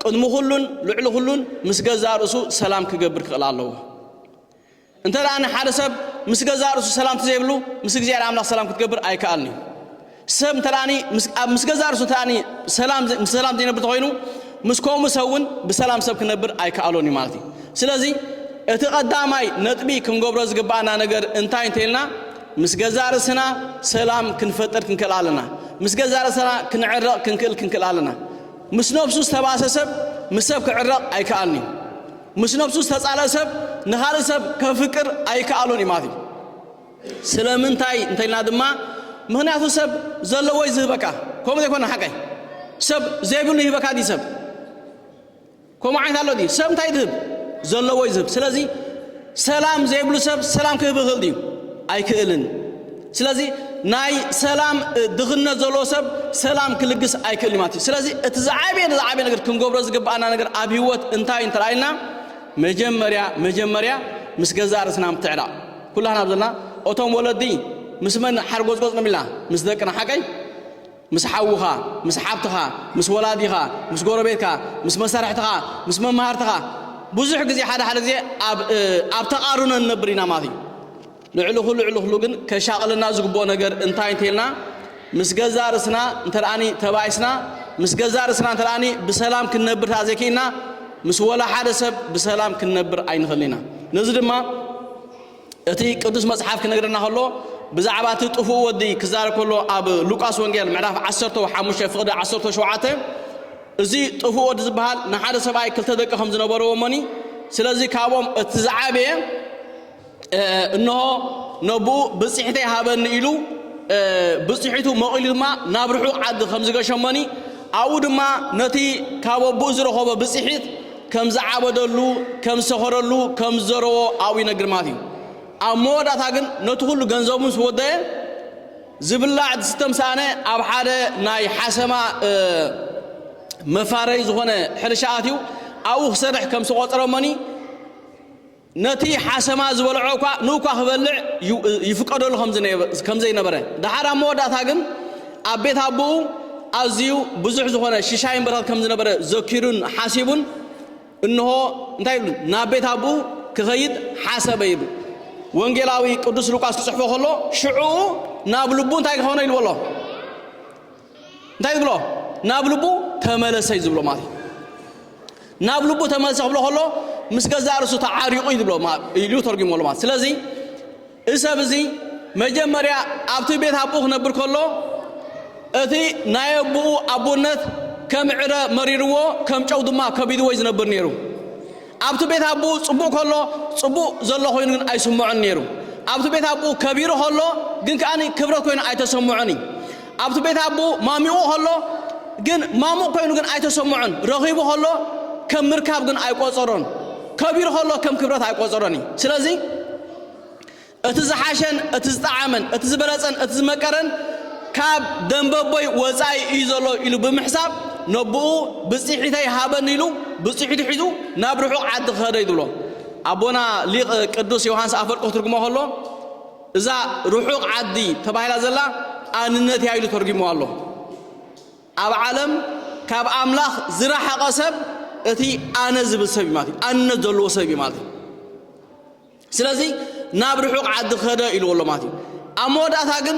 ቅድሚ ኩሉን ልዕሊ ኩሉን ምስ ገዛእ ርእሱ ሰላም ክገብር ክኽእል ኣለዎ። እንተ ደኣ ንሓደ ሰብ ምስ ገዛእ ርእሱ ሰላም ተዘይብሉ ምስ እግዚኣብሔር ኣምላኽ ሰላም ክትገብር ኣይከኣልን እዩ። ሰብ እንተ ደኣ ምስ ኣብ ምስ ገዛእ ርእሱ እንተ ደኣ ሰላም ምስ ሰላም ዘይነብር ተኾይኑ ምስ ከምኡ ሰብ እውን ብሰላም ሰብ ክነብር ኣይከኣሎን እዩ ማለት እዩ። ስለዚ እቲ ቀዳማይ ነጥቢ ክንገብሮ ዝግብኣና ነገር እንታይ እንተ ኢልና ምስ ገዛእ ርእስና ሰላም ክንፈጥር ክንክእል ኣለና። ምስ ገዛእ ርእስና ክንዕረቕ ክንክእል ክንክእል ኣለና። ምስ ነብሱ ዝተባእሰ ሰብ ምስ ሰብ ክዕረቕ ኣይከኣልን እዩ። ምስ ነብሱ ዝተጻልኣ ሰብ ንኻልእ ሰብ ከፍቅር ኣይከኣሎን እዩ ማለት እዩ። ስለምንታይ እንተልና ድማ ምኽንያቱ ሰብ ዘለዎ እዩ ዝህበካ ከምኡ ዘይኮነ ሓቀይ ሰብ ዘይብሉ ይህበካ ድዩ ሰብ ከምኡ ዓይነት ኣሎ ድዩ ሰብ እንታይ ዝህብ ዘለዎ እዩ ዝህብ ስለዚ ሰላም ዘይብሉ ሰብ ሰላም ክህብ ይኽእል ድዩ ኣይክእልን ስለዚ ናይ ሰላም ድኽነት ዘለዎ ሰብ ሰላም ክልግስ ኣይክእል እዩ ማለት እዩ። ስለዚ እቲ ዝዓበየ ንዝዓበየ ነገር ክንገብሮ ዝግብኣና ነገር ኣብ ህይወት እንታይ እዩ እንተረኣይልና መጀመርያ መጀመርያ ምስ ገዛእ ርእስና ምትዕራቕ ኩላህና ኣብ ዘለና እቶም ወለዲ ምስ መን ሓርጎጽጎጽ ንብልና ምስ ደቅና ሓቀይ ምስ ሓውኻ ምስ ሓብትኻ ምስ ወላዲኻ ምስ ጎረቤትካ ምስ መሳርሕትኻ ምስ መማህርትኻ ብዙሕ ግዜ ሓደ ሓደ ግዜ ኣብ ተቓርኖ ንነብር ኢና ማለት እዩ ልዕሊ ኹሉ ልዕሊ ኹሉ ግን ከሻቕለና ዝግብኦ ነገር እንታይ እንተይልና ምስ ገዛ ርስና እንተደኣኒ ተባኢስና ምስ ገዛ ርስና እንተደኣኒ ብሰላም ክንነብር ተኣ ዘይክኢልና ምስ ወላ ሓደ ሰብ ብሰላም ክንነብር ኣይንኽእልን ኢና ነዚ ድማ እቲ ቅዱስ መጽሓፍ ክነግረና ከሎ ብዛዕባ እቲ ጥፉእ ወዲ ክዛረብ ከሎ ኣብ ሉቃስ ወንጌል ምዕራፍ 15 ፍቕዲ 17 እዚ ጥፉእ ወዲ ዝበሃል ንሓደ ሰብኣይ ክልተ ደቂ ከም ዝነበርዎ እሞኒ ስለዚ ካብኦም እቲ ዝዓበየ እንሆ ነብኡ ብጽሒተይ ሃበኒ ኢሉ ብጽሒቱ መቒሉ ድማ ናብ ርሑቕ ዓዲ ከም ዝገሸመኒ ኣብኡ ድማ ነቲ ካብ ኣቦኡ ዝረኸቦ ብጽሒት ከም ዝዓበደሉ ከም ዝሰኸረሉ ከም ዝዘረቦ ኣብኡ ይነግር ማለት እዩ ኣብ መወዳእታ ግን ነቲ ኩሉ ገንዘቡ ምስ ወደየ ዝብላዕ ዝስተም ሰኣነ ኣብ ሓደ ናይ ሓሰማ መፋረይ ዝኾነ ሕርሻ ኣትዩ ኣብኡ ክሰርሕ ከም ዝቆጸረመኒ ነቲ ሓሰማ ዝበልዖ'ኳ ንኡኳ ክበልዕ ይፍቀደሉ ከም ዘይነበረ፣ ደሓር ኣብ መወዳእታ ግን ኣብ ቤት ኣቦኡ ኣዝዩ ብዙሕ ዝኾነ ሽሻይ ይምበረኽ ከም ዝነበረ ዘኪሩን ሓሲቡን እንሆ እንታይ ይብሉ ናብ ቤት ኣቦኡ ክኸይድ ሓሰበ ይብሉ። ወንጌላዊ ቅዱስ ሉቃስ ክጽሕፎ ከሎ ሽዑኡ ናብ ልቡ እንታይ ክኾኖ ኢልዎ ኣሎ? እንታይ ዝብሎ ናብ ልቡ ተመለሰ እዩ ዝብሎ ማለት እዩ ናብ ልቡ ተመለሰ ክብሎ ከሎ ምስ ገዛእ ርእሱ ተዓሪቑ እዩ ዝብሎ ኢሉ ተርጒሞሉ ማለት ስለዚ እዚ ሰብ እዚ መጀመርያ ኣብቲ ቤት ኣቦኡ ክነብር ከሎ እቲ ናይ ኣቦኡ ኣቦነት ከም ዕረ መሪርዎ ከም ጨው ድማ ከቢድዎ እዩ ዝነብር ነይሩ ኣብቲ ቤት ኣቦኡ ጽቡቕ ከሎ ጽቡቕ ዘሎ ኮይኑ ግን ኣይስምዖን ነይሩ። ኣብቲ ቤት ኣቦኡ ከቢሩ ከሎ ግን ከኣ ክብረት ኮይኑ ኣይተሰምዖን እዩ። ኣብቲ ቤት ኣቦኡ ማሚቑ ከሎ ግን ማሙቕ ኮይኑ ግን ኣይተሰምዖን። ረኺቡ ከሎ ከም ምርካብ ግን ኣይቆጸሮን። ከቢሩ ከሎ ከም ክብረት ኣይቆጸሮን እዩ። ስለዚ እቲ ዝሓሸን እቲ ዝጠዓመን፣ እቲ ዝበለጸን እቲ ዝመቀረን ካብ ደምበቦይ ወጻኢ እዩ ዘሎ ኢሉ ብምሕሳብ ነቦኡ ብጽሒተይ ሃበኒ ኢሉ ብጽሒቱ ሒዙ ናብ ርሑቕ ዓዲ ክኸደ እዩ ዝብሎ። ኣቦና ሊቅ ቅዱስ ዮውሃንስ ኣፈወርቅ ክትርጉሞ ከሎ እዛ ርሑቕ ዓዲ ተባሂላ ዘላ ኣንነት እያ ኢሉ ተርጉምዋ ኣሎ። ኣብ ዓለም ካብ ኣምላኽ ዝረሓቐ ሰብ እቲ ኣነ ዝብል ሰብ እዩ ማለት እዩ። ኣንነት ዘለዎ ሰብ እዩ ማለት እዩ። ስለዚ ናብ ርሑቕ ዓዲ ከደ ኢልዎ ኣሎ ማለት እዩ ኣብ መወዳእታ ግን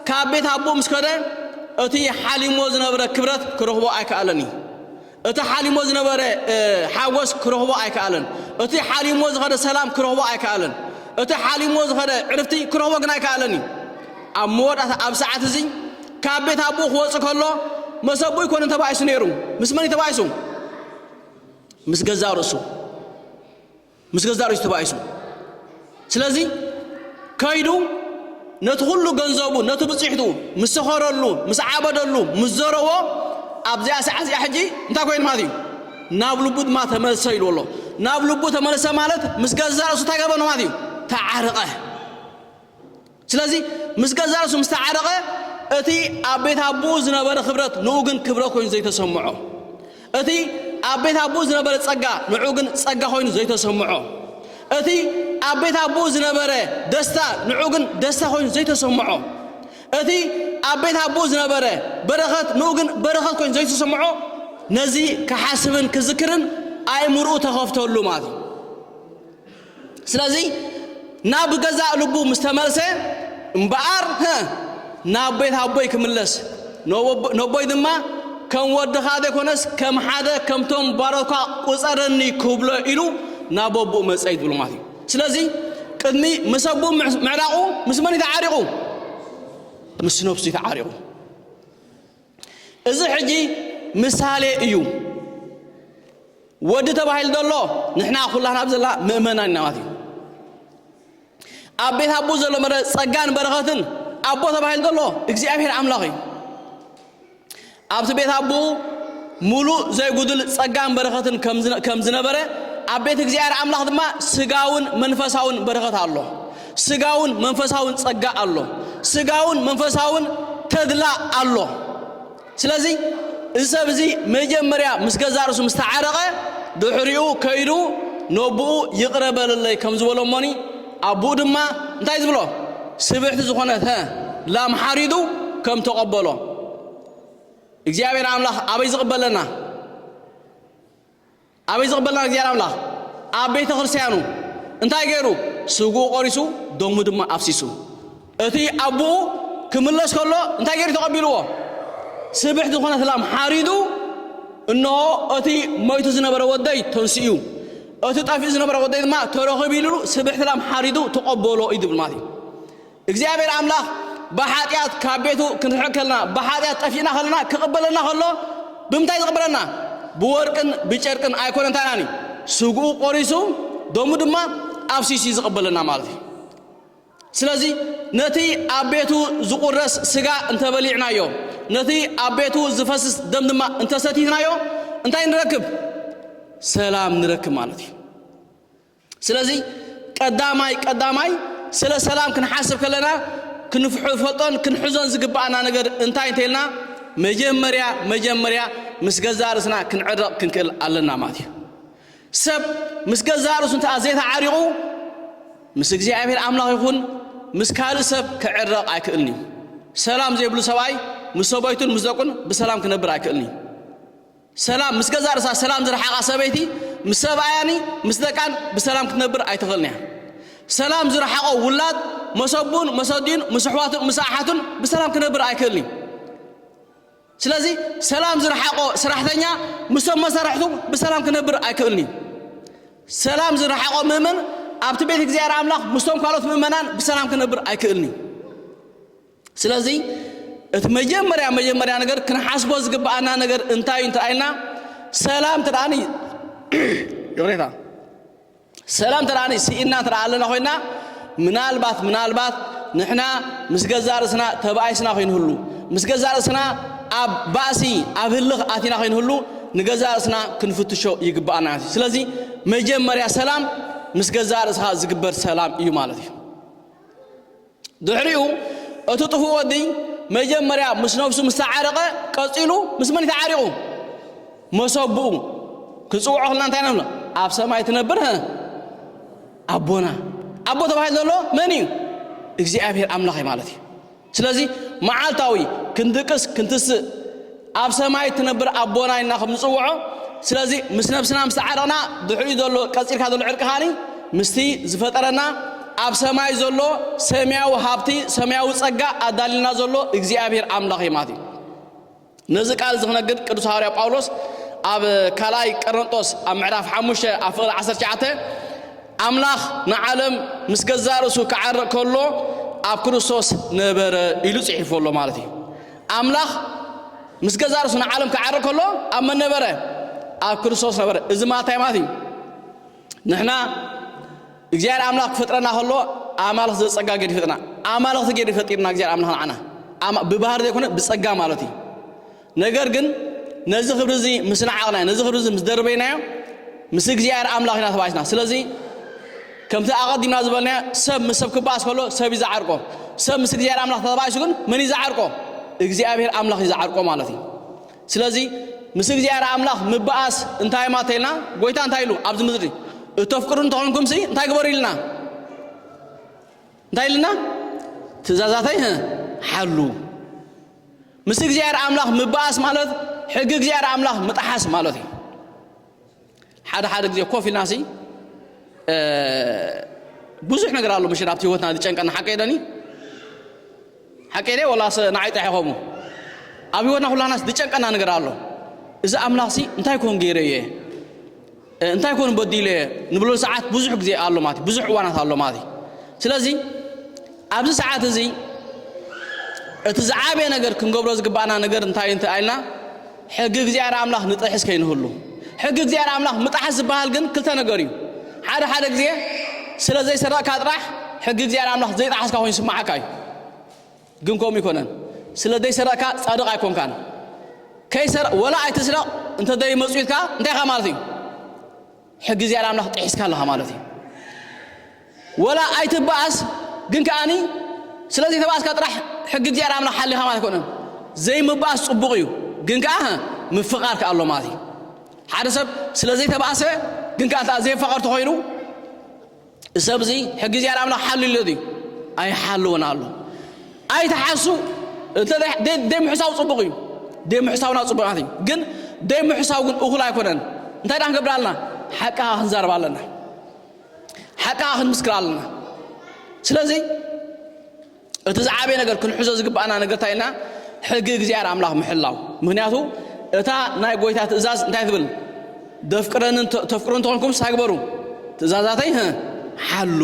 ካብ ቤት ኣቦ ምስ ከደ እቲ ሓሊሞ ዝነበረ ክብረት ክረኽቦ ኣይከኣለን እዩ እቲ ሓሊሞ ዝነበረ ሓጎስ ክረኽቦ ኣይከኣለን እቲ ሓሊሞ ዝኸደ ሰላም ክረኽቦ ኣይከኣለን እቲ ሓሊሞ ዝኸደ ዕርፍቲ ክረኽቦ ግን ኣይከኣለን እዩ ኣብ መወዳእታ ኣብ ሰዓት እዚ ካብ ቤት ኣቦ ክወፅ ከሎ መሰቡ ይኮነ ተባኢሱ ነይሩ ምስ መን ተባኢሱ ምስ ገዛ ርእሱ ምስ ገዛእ ርእሱ ተባኢሱ ስለዚ ከይዱ ነቲ ኩሉ ገንዘቡ ነቲ ብጽሕቱ ምስ ሰኸረሉ ምስ ዓበደሉ ምስ ዘረዎ ኣብዚኣ ሰዓት እዚኣ ሕጂ እንታይ ኮይኑ ማለት እዩ ናብ ልቡ ድማ ተመልሰ ኢልዎ ኣሎ ናብ ልቡ ተመልሰ ማለት ምስ ገዛእ ርእሱ እንታይ ገበረ ማለት እዩ ተዓርቐ ስለዚ ምስ ገዛእ ርእሱ ምስ ተዓረቐ፣ እቲ ኣብ ቤት ኣቦኡ ዝነበረ ክብረት ንኡ ግን ክብረት ኮይኑ ዘይተሰምዖ፣ እቲ ኣብ ቤት ኣቦኡ ዝነበረ ጸጋ ንዑ ግን ጸጋ ኮይኑ ዘይተሰምዖ፣ እቲ ኣብ ቤት ኣቦኡ ዝነበረ ደስታ ንዑ ግን ደስታ ኮይኑ ዘይተሰምዖ፣ እቲ ኣብ ቤት ኣቦኡ ዝነበረ በረኸት ንኡ ግን በረኸት ኮይኑ ዘይተሰምዖ፣ ነዚ ክሓስብን ክዝክርን ኣእምርኡ ተኸፍተሉ ማለት እዩ። ስለዚ ናብ ገዛእ ልቡ ምስ ተመልሰ እምበኣር ህእ ናብ ቤት ኣቦይ ክምለስ ነቦይ ድማ ከም ወድኻ ዘይኮነስ ከም ሓደ ከምቶም ባሮትካ ቁፀረኒ ክብሎ ኢሉ ናብ ኣቦኡ መፀ እዩ ዝብሉ ማለት እዩ ስለዚ ቅድሚ ምስ ኣቦኡ ምዕራቑ ምስ መን እዩ ተዓሪቑ ምስ ነብሱ እዩ ተዓሪቑ እዚ ሕጂ ምሳሌ እዩ ወዲ ተባሂሉ ዘሎ ንሕና ኩላትና ኣብ ዘላ ምእመናን ኢና ማለት እዩ ኣብ ቤት ኣቦ ዘሎ መረ ጸጋን በረኸትን ኣቦ ተባሂሉ ዘሎ እግዚኣብሔር ኣምላኽ እዩ ኣብቲ ቤት ኣቦኡ ሙሉእ ዘይጉድል ጸጋን በረኸትን ከም ዝነበረ ኣብ ቤት እግዚኣብሔር ኣምላኽ ድማ ስጋውን መንፈሳውን በረኸት ኣሎ ስጋውን መንፈሳውን ጸጋ ኣሎ፣ ስጋውን መንፈሳውን ተድላ ኣሎ። ስለዚ እዚ ሰብ እዚ መጀመርያ ምስ ገዛ ርእሱ ምስ ተዓረቐ ድሕሪኡ ከይዱ ነቦኡ ይቕረ በለለይ ከም ዝበሎ እሞኒ ኣቦኡ ድማ እንታይ ዝብሎ ስብሕቲ ዝኾነት ላም ሓሪዱ ከም ተቐበሎ እግዚኣብሔር ኣምላኽ ኣበይ ዝቕበለና ኣበይ ዝቕበልና እግዚኣብሔር ኣምላኽ ኣብ ቤተ ክርስቲያኑ እንታይ ገይሩ ስግኡ ቆሪሱ ደሙ ድማ ኣፍሲሱ እቲ ኣቡኡ ክምለስ ከሎ እንታይ ገይሩ ተቐቢልዎ ስብሕቲ ዝኾነት ላም ሓሪዱ እነሆ እቲ ሞይቱ ዝነበረ ወደይ ተንስኡ እቲ ጠፊኡ ዝነበረ ወደይ ድማ ተረኺቡ ኢሉ ስብሕቲ ላም ሓሪዱ ተቐበሎ እዩ ዝብል ማለት እዩ እግዚኣብሔር ኣምላኽ ብኃጢኣት ካብ ቤቱ ክንርሕቕ ከለና ብኃጢኣት ጠፊእና ከለና ክቕበለና ከሎ ብምንታይ ዝቕበለና ብወርቅን ብጨርቅን ኣይኮነን እንታይናን እዩ ስግኡ ቆሪሱ ደሙ ድማ ኣፍሲሱ ዝቕበለና ማለት እዩ ስለዚ ነቲ ኣብ ቤቱ ዝቑረስ ስጋ እንተበሊዕናዮ ነቲ ኣብ ቤቱ ዝፈስስ ደም ድማ እንተሰቲትናዮ እንታይ ንረክብ ሰላም ንረክብ ማለት እዩ ስለዚ ቀዳማይ ቀዳማይ ስለ ሰላም ክንሓስብ ከለና ክንፈልጦን ክንሕዞን ዝግብኣና ነገር እንታይ እንተይልና መጀመርያ መጀመርያ ምስ ገዛእ ርእስና ክንዕረቕ ክንክእል ኣለና ማለት እዩ። ሰብ ምስ ገዛእ ርእሱ እንተኣ ዘይተዓሪቑ ምስ እግዚኣብሔር ኣምላኽ ይኹን ምስ ካልእ ሰብ ክዕረቕ ኣይክእልን እዩ። ሰላም ዘይብሉ ሰብኣይ ምስ ሰበይቱን ምስ ደቁን ብሰላም ክነብር ኣይክእልን እዩ። ሰላም ምስ ገዛእ ርእሳ ሰላም ዝረሓቓ ሰበይቲ ምስ ሰብኣያን ምስ ደቃን ብሰላም ክትነብር ኣይትኽእልን እያ። ሰላም ዝረሓቖ ውላድ መስ ኣቡን መስ ኣዲኡን ምስ ኣሕዋቱን ምስ ኣሓቱን ብሰላም ክነብር ኣይክእልን እዩ። ስለዚ ሰላም ዝረሓቖ ስራሕተኛ ምስቶም መሳርሕቱ ብሰላም ክነብር ኣይክእልን እዩ። ሰላም ዝረሓቖ ምእመን ኣብቲ ቤት እግዚኣብሔር ኣምላኽ ምስቶም ካልኦት ምእመናን ብሰላም ክነብር ኣይክእልን እዩ። ስለዚ እቲ መጀመርያ መጀመርያ ነገር ክንሓስቦ ዝግብኣና ነገር እንታይ እዩ እንተራኢልና ሰላም ተደኣ ይቕሬታ ሰላም ተደኣ ስኢና ተደኣ ኣለና ኮይና ምናልባት ምናልባት ንሕና ምስ ገዛ ርእስና ተባኢስና ኮይንህሉ ምስ ገዛ ርእስና ኣብ ባእሲ ኣብ ህልኽ ኣቲና ኮይንህሉ ንገዛ ርእስና ክንፍትሾ ይግባኣና እዩ ስለዚ መጀመርያ ሰላም ምስ ገዛ ርእስኻ ዝግበር ሰላም እዩ ማለት እዩ ድሕሪኡ እቲ ጥፉእ ወዲ መጀመርያ ምስ ነብሱ ምስ ተዓረቐ ቀጺሉ ምስ መን ተዓሪቑ? መሰብኡ ክንጽውዖ ከለና እንታይ ንብሎ? ኣብ ሰማይ ትነብር ኣቦና ኣቦ ተባሂሉ ዘሎ መን እዩ? እግዚኣብሔር ኣምላኽ እዩ ማለት እዩ። ስለዚ መዓልታዊ ክንድቅስ ክንትስእ ኣብ ሰማይ እትነብር ኣቦና ኢልና ከም ንጽውዖ ስለዚ ምስ ነብስና ምስ ተዓረቕና ድሕሪኡ ዘሎ ቀጺልካ ዘሎ ዕርቂ ኻኒ ምስቲ ዝፈጠረና ኣብ ሰማይ ዘሎ ሰማያዊ ሃብቲ ሰማያዊ ጸጋ ኣዳልልና ዘሎ እግዚኣብሔር ኣምላኽ እዩ ማለት እዩ ነዚ ቃል እዚ ክነግድ ቅዱስ ሃዋርያ ጳውሎስ ኣብ ካልኣይ ቀረንጦስ ኣብ ምዕራፍ ሓሙሽተ ኣብ ፍቕሪ ዓሰርተ ትሽዓተ ኣምላኽ ንዓለም ምስ ገዛእ ርእሱ ክዓርቕ ከሎ ኣብ ክርስቶስ ነበረ ኢሉ ጽሒፉ ኣሎ ማለት እዩ ኣምላኽ ምስ ገዛእ ርእሱ ንዓለም ክዓርግ ከሎ ኣብ መን ነበረ? ኣብ ክርስቶስ ነበረ። እዚ ማለት እንታይ ማለት እዩ? ንሕና እግዚኣብሔር ኣምላኽ ክፈጥረና ከሎ ኣማልኽ ዘጸጋ ገይሩ ይፈጥና ኣማልኽቲ ገይሩ ፈጢርና እግዚኣብሔር ኣምላኽ ንዓና ብባህሪ ዘይኮነ ብጸጋ ማለት እዩ። ነገር ግን ነዚ ክብሪ እዚ ምስ ንዓቕናዮ ነዚ ክብሪ እዚ ምስ ደርበይናዮ ምስ እግዚኣብሔር ኣምላኽ ኢና ተባኢስና ስለዚ ከምቲ ኣቐዲምና ዝበልናዮ ሰብ ምስ ሰብ ክበኣስ ከሎ ሰብ እዩ ዝዓርቆ። ሰብ ምስ እግዚኣብሔር ኣምላኽ ተባኢሱ ግን መን እዩ ዝዓርቆ? እግዚኣብሔር ኣምላኽ እዩ ዝዓርቆ ማለት እዩ። ስለዚ ምስ እግዚኣብሔር ኣምላኽ ምበኣስ እንታይ ማለት ኢልና ጎይታ እንታይ ኢሉ ኣብዚ ምድሪ እተፍቅሩ እንተኾንኩም ሲ እንታይ ግበሩ ኢልና እንታይ ኢልና ትእዛዛተይ ሓሉ ምስ እግዚኣብሔር ኣምላኽ ምበኣስ ማለት ሕጊ እግዚኣብሔር ኣምላኽ ምጥሓስ ማለት እዩ። ሓደ ሓደ ግዜ ኮፍ ኢልና ሲ ብዙሕ ነገር ኣሎ ምሽን ኣብቲ ህይወትና ዝጨንቀና ሓቀይ ዶኒ ሓቀይ ደ ወላስ ንዓይ ጥራሕ ይኸሙ ኣብ ህይወትና ኩላናስ ዝጨንቀና ነገር ኣሎ እዚ ኣምላኽ ሲ እንታይ ኮን ገይረ እየ እንታይ ኮን በዲለ እየ ንብለሉ ሰዓት ብዙሕ ግዜ ኣሎ ማለት ብዙሕ እዋናት ኣሎ ማለት እዩ ስለዚ ኣብዚ ሰዓት እዚ እቲ ዝዓበየ ነገር ክንገብሮ ዝግባእና ነገር እንታይ እንተ ኣልና ሕጊ እግዚኣብሔር ኣምላኽ ንጥሕስ ከይንህሉ ሕጊ እግዚኣብሔር ኣምላኽ ምጣሓስ ዝበሃል ግን ክልተ ነገር እዩ ሓደ ሓደ ግዜ ስለ ዘይሰረቕካ ጥራሕ ሕጊ እግዚኣብሔር ኣምላኽ ዘይጠሓስካ ኮይኑ ስማዓካ እዩ ግን ከምኡ ይኮነን ስለ ዘይሰረቕካ ጻድቕ ኣይኮንካን ከይሰር ወላ ኣይትስረቕ እንተ ዘይመጽኡ ኢልካ እንታይ ኢኻ ማለት እዩ ሕጊ እግዚኣብሔር ኣምላኽ ጢሒስካ ኣለኻ ማለት እዩ ወላ ኣይትበኣስ ግን ከኣኒ ስለ ዘይተበኣስካ ጥራሕ ሕጊ እግዚኣብሔር ኣምላኽ ሓሊኻ ማለት ኣይኮነን ዘይምበኣስ ጽቡቕ እዩ ግን ከኣ ምፍቓር ከኣ ኣሎ ማለት እዩ ሓደ ሰብ ስለ ዘይተበኣሰ ግን ከኣ ዘይፋቐር ተኾይኑ ሰብዚ ሕጊ እግዚኣብሔር ኣምላኽ ሓልዩሎ ድዩ? ኣይሓልውን ኣሎ። ኣይትሓሱ እንተ ዘይምሕሳው ጽቡቕ እዩ። ዘይምሕሳውና ጽቡቓት እዩ። ግን ዘይምሕሳው ግን እኹል ኣይኮነን። እንታይ ደኣ ክንገብር ኣለና? ሓቂ ከኣ ክንዛረብ ኣለና። ሓቂ ከኣ ክንምስክር ኣለና። ስለዚ እቲ ዝዓበየ ነገር ክንሕዞ ዝግባኣና ነገር እንታይ ኢልና ሕጊ እግዚኣብሔር ኣምላኽ ምሕላው ምክንያቱ እታ ናይ ጎይታ ትእዛዝ እንታይ ትብል ደፍቅረንን ተፍቅሩ እንተኾንኩም ስታይ ግበሩ ትእዛዛተይ ሓሉ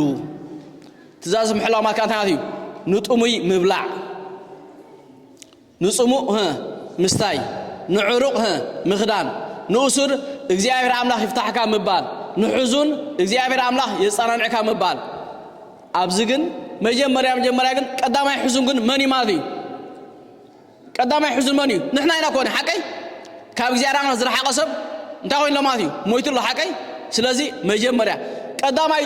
ትእዛዝ ምሕላው ማለት እንታይ ማለት እዩ ንጥሙይ ምብላዕ ንጽሙእ ህ ምስታይ፣ ንዕሩቕ ህ ምኽዳን፣ ንእሱር እግዚኣብሔር ኣምላኽ ይፍታሕካ ምባል፣ ንሕዙን እግዚኣብሔር ኣምላኽ የጸናንዕካ ምባል። ኣብዚ ግን መጀመርያ መጀመርያ ግን ቀዳማይ ሕዙን ግን መን እዩ ማለት እዩ? ቀዳማይ ሕዙን መን እዩ? ንሕና ኢና ኮን ሓቀይ? ካብ እግዚኣብሔር ኣምላኽ ዝረሓቀ ሰብ እንታይ ኮይኑ ኣሎ ማለት እዩ ሞይቱ ኣሎ ሓቀይ ስለዚ መጀመርያ ቀዳማይ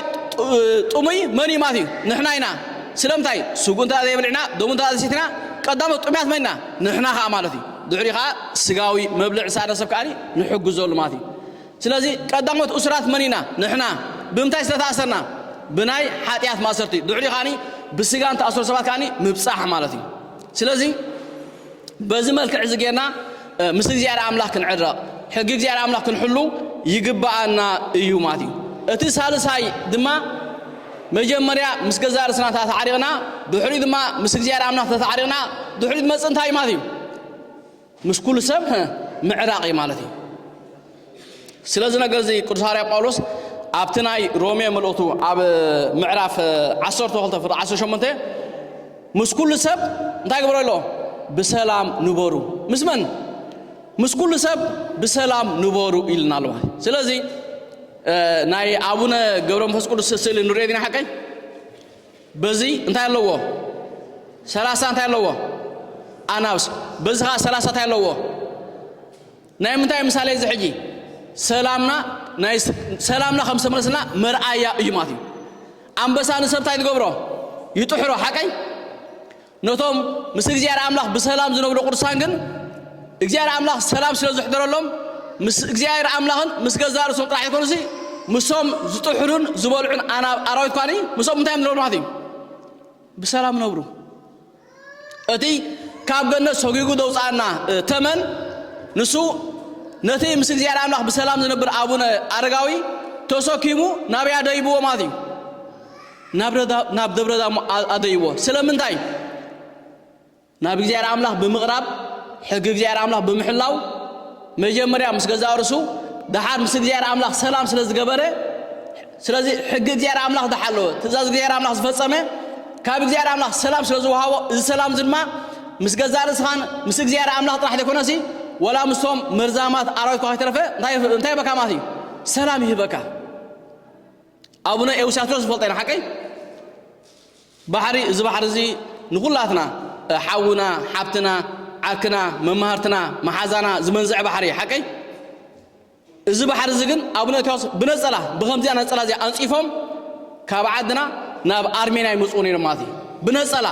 ጥሙይ መን እዩ ማለት እዩ ንሕና ኢና ስለምንታይ ስጉ እንተ ዘይበልዕና ደሙ እንተ ዘይሰትና ቀዳሞት ጥሙያት መን ኢና ንሕና ከዓ ማለት እዩ ድሕሪ ከዓ ስጋዊ መብልዕ ሳነ ሰብ ከዓ ንሕግዘሉ ማለት እዩ ስለዚ ቀዳሞት እሱራት መን ኢና ንሕና ብምንታይ ስለተኣሰርና ብናይ ሓጢኣት ማእሰርቲ ድሕሪ ከዓ ብስጋ እንተኣሰሩ ሰባት ከዓ ምብፃሕ ማለት እዩ ስለዚ በዚ መልክዕ እዚ ጌርና ምስ እግዚኣብሔር ኣምላኽ ክንዕረቕ ሕጊ እግዚኣብሔር ኣምላኽ ክንሕሉ ይግባኣና እዩ ማለት እዩ እቲ ሳልሳይ ድማ መጀመርያ ምስ ገዛ ርስና ተታዕሪቕና ድሕሪ ድማ ምስ እግዚኣብሔር ኣምላኽ ተታዕሪቕና ድሕሪ ዝመፅእ እንታይ ማለት እዩ ምስ ኩሉ ሰብ ምዕራቕ እዩ ማለት እዩ ስለዚ ነገርዚ ቅዱስ ሃዋርያ ጳውሎስ ኣብቲ ናይ ሮሜ መልእኽቱ ኣብ ምዕራፍ ዓሰርተ ክልተ ፍቕዲ ዓሰርተ ሸሞንተ ምስ ኩሉ ሰብ እንታይ ግበረ ኣሎ ብሰላም ንበሩ ምስ መን ምስ ኩሉ ሰብ ብሰላም ንበሩ ኢልና ኣሎ ማለት ስለዚ ናይ ኣቡነ ገብረ መንፈስ ቅዱስ ስእሊ ንሪኦ ዲና ሓቀይ በዚ እንታይ ኣለዎ ሰላሳ እንታይ ኣለዎ ኣናብስ በዚ ከዓ ሰላሳ እንታይ ኣለዎ ናይ ምንታይ ምሳሌ እዚ ሕጂ ሰላምና ናይ ሰላምና ከም ዝተመለስና መርኣያ እዩ ማለት እዩ ኣንበሳ ንሰብ እንታይ ትገብሮ ይጥሕሮ ሓቀይ ነቶም ምስ እግዚኣብሔር ኣምላኽ ብሰላም ዝነብሩ ቅዱሳን ግን እግዚኣብሔር ኣምላኽ ሰላም ስለ ዝሕደረሎም ምስ እግዚኣብሔር ኣምላኽን ምስ ገዛ ርእሶም ጥራሕ ይኮኑሲ ምሶም ዝጥሕሩን ዝበልዑን ኣራዊት ኳኒ ምሶም እንታይ እዮም ዝነብሩ ማለት እዩ ብሰላም ነብሩ እቲ ካብ ገነት ሰጒጉ ዘውጽኣና ተመን ንሱ ነቲ ምስ እግዚኣብሔር ኣምላኽ ብሰላም ዝነብር ኣቡነ ኣረጋዊ ተሰኪሙ ናብያ ደይብዎ ማለት እዩ ናብ ደብረ ዳሞ ኣደይዎ ስለምንታይ ናብ እግዚኣብሔር ኣምላኽ ብምቕራብ ሕጊ እግዚኣብሔር ኣምላኽ ብምሕላው መጀመርያ ምስ ገዛ ርሱ ደሓር ምስ እግዚኣብሔር ኣምላኽ ሰላም ስለ ዝገበረ ስለዚ ሕጊ እግዚኣብሔር ኣምላኽ ዝሓለወ፣ ትእዛዝ እግዚኣብሔር ኣምላኽ ዝፈጸመ፣ ካብ እግዚኣብሔር ኣምላኽ ሰላም ስለ ዝወሃቦ፣ እዚ ሰላም እዚ ድማ ምስ ገዛእ ርእስኻን ምስ እግዚኣብሔር ኣምላኽ ጥራሕ ዘይኮነሲ ወላ ምስቶም መርዛማት ኣራዊት እኳ ከይተረፈ እንታይ እንታይ ይህበካ ማለት እዩ? ሰላም ይህበካ። ኣቡነ ኤውሳትሮስ ዝፈልጦ ኢና ሓቀይ ባሕሪ እዚ ባሕሪ እዚ ንኹላትና ሓውና ሓብትና ዓርክና መማህርትና መሓዛና ዝመንዝዕ ባሕሪ ሓቀይ እዚ ባሕሪ እዚ ግን ኣቡነ እታዎስ ብነጸላ ብከምዚኣ ነጸላ እዚኣ ኣንጺፎም ካብ ዓድና ናብ ኣርሜንያ ይመጽኡ ነይሮም ማለት እዩ ብነጸላ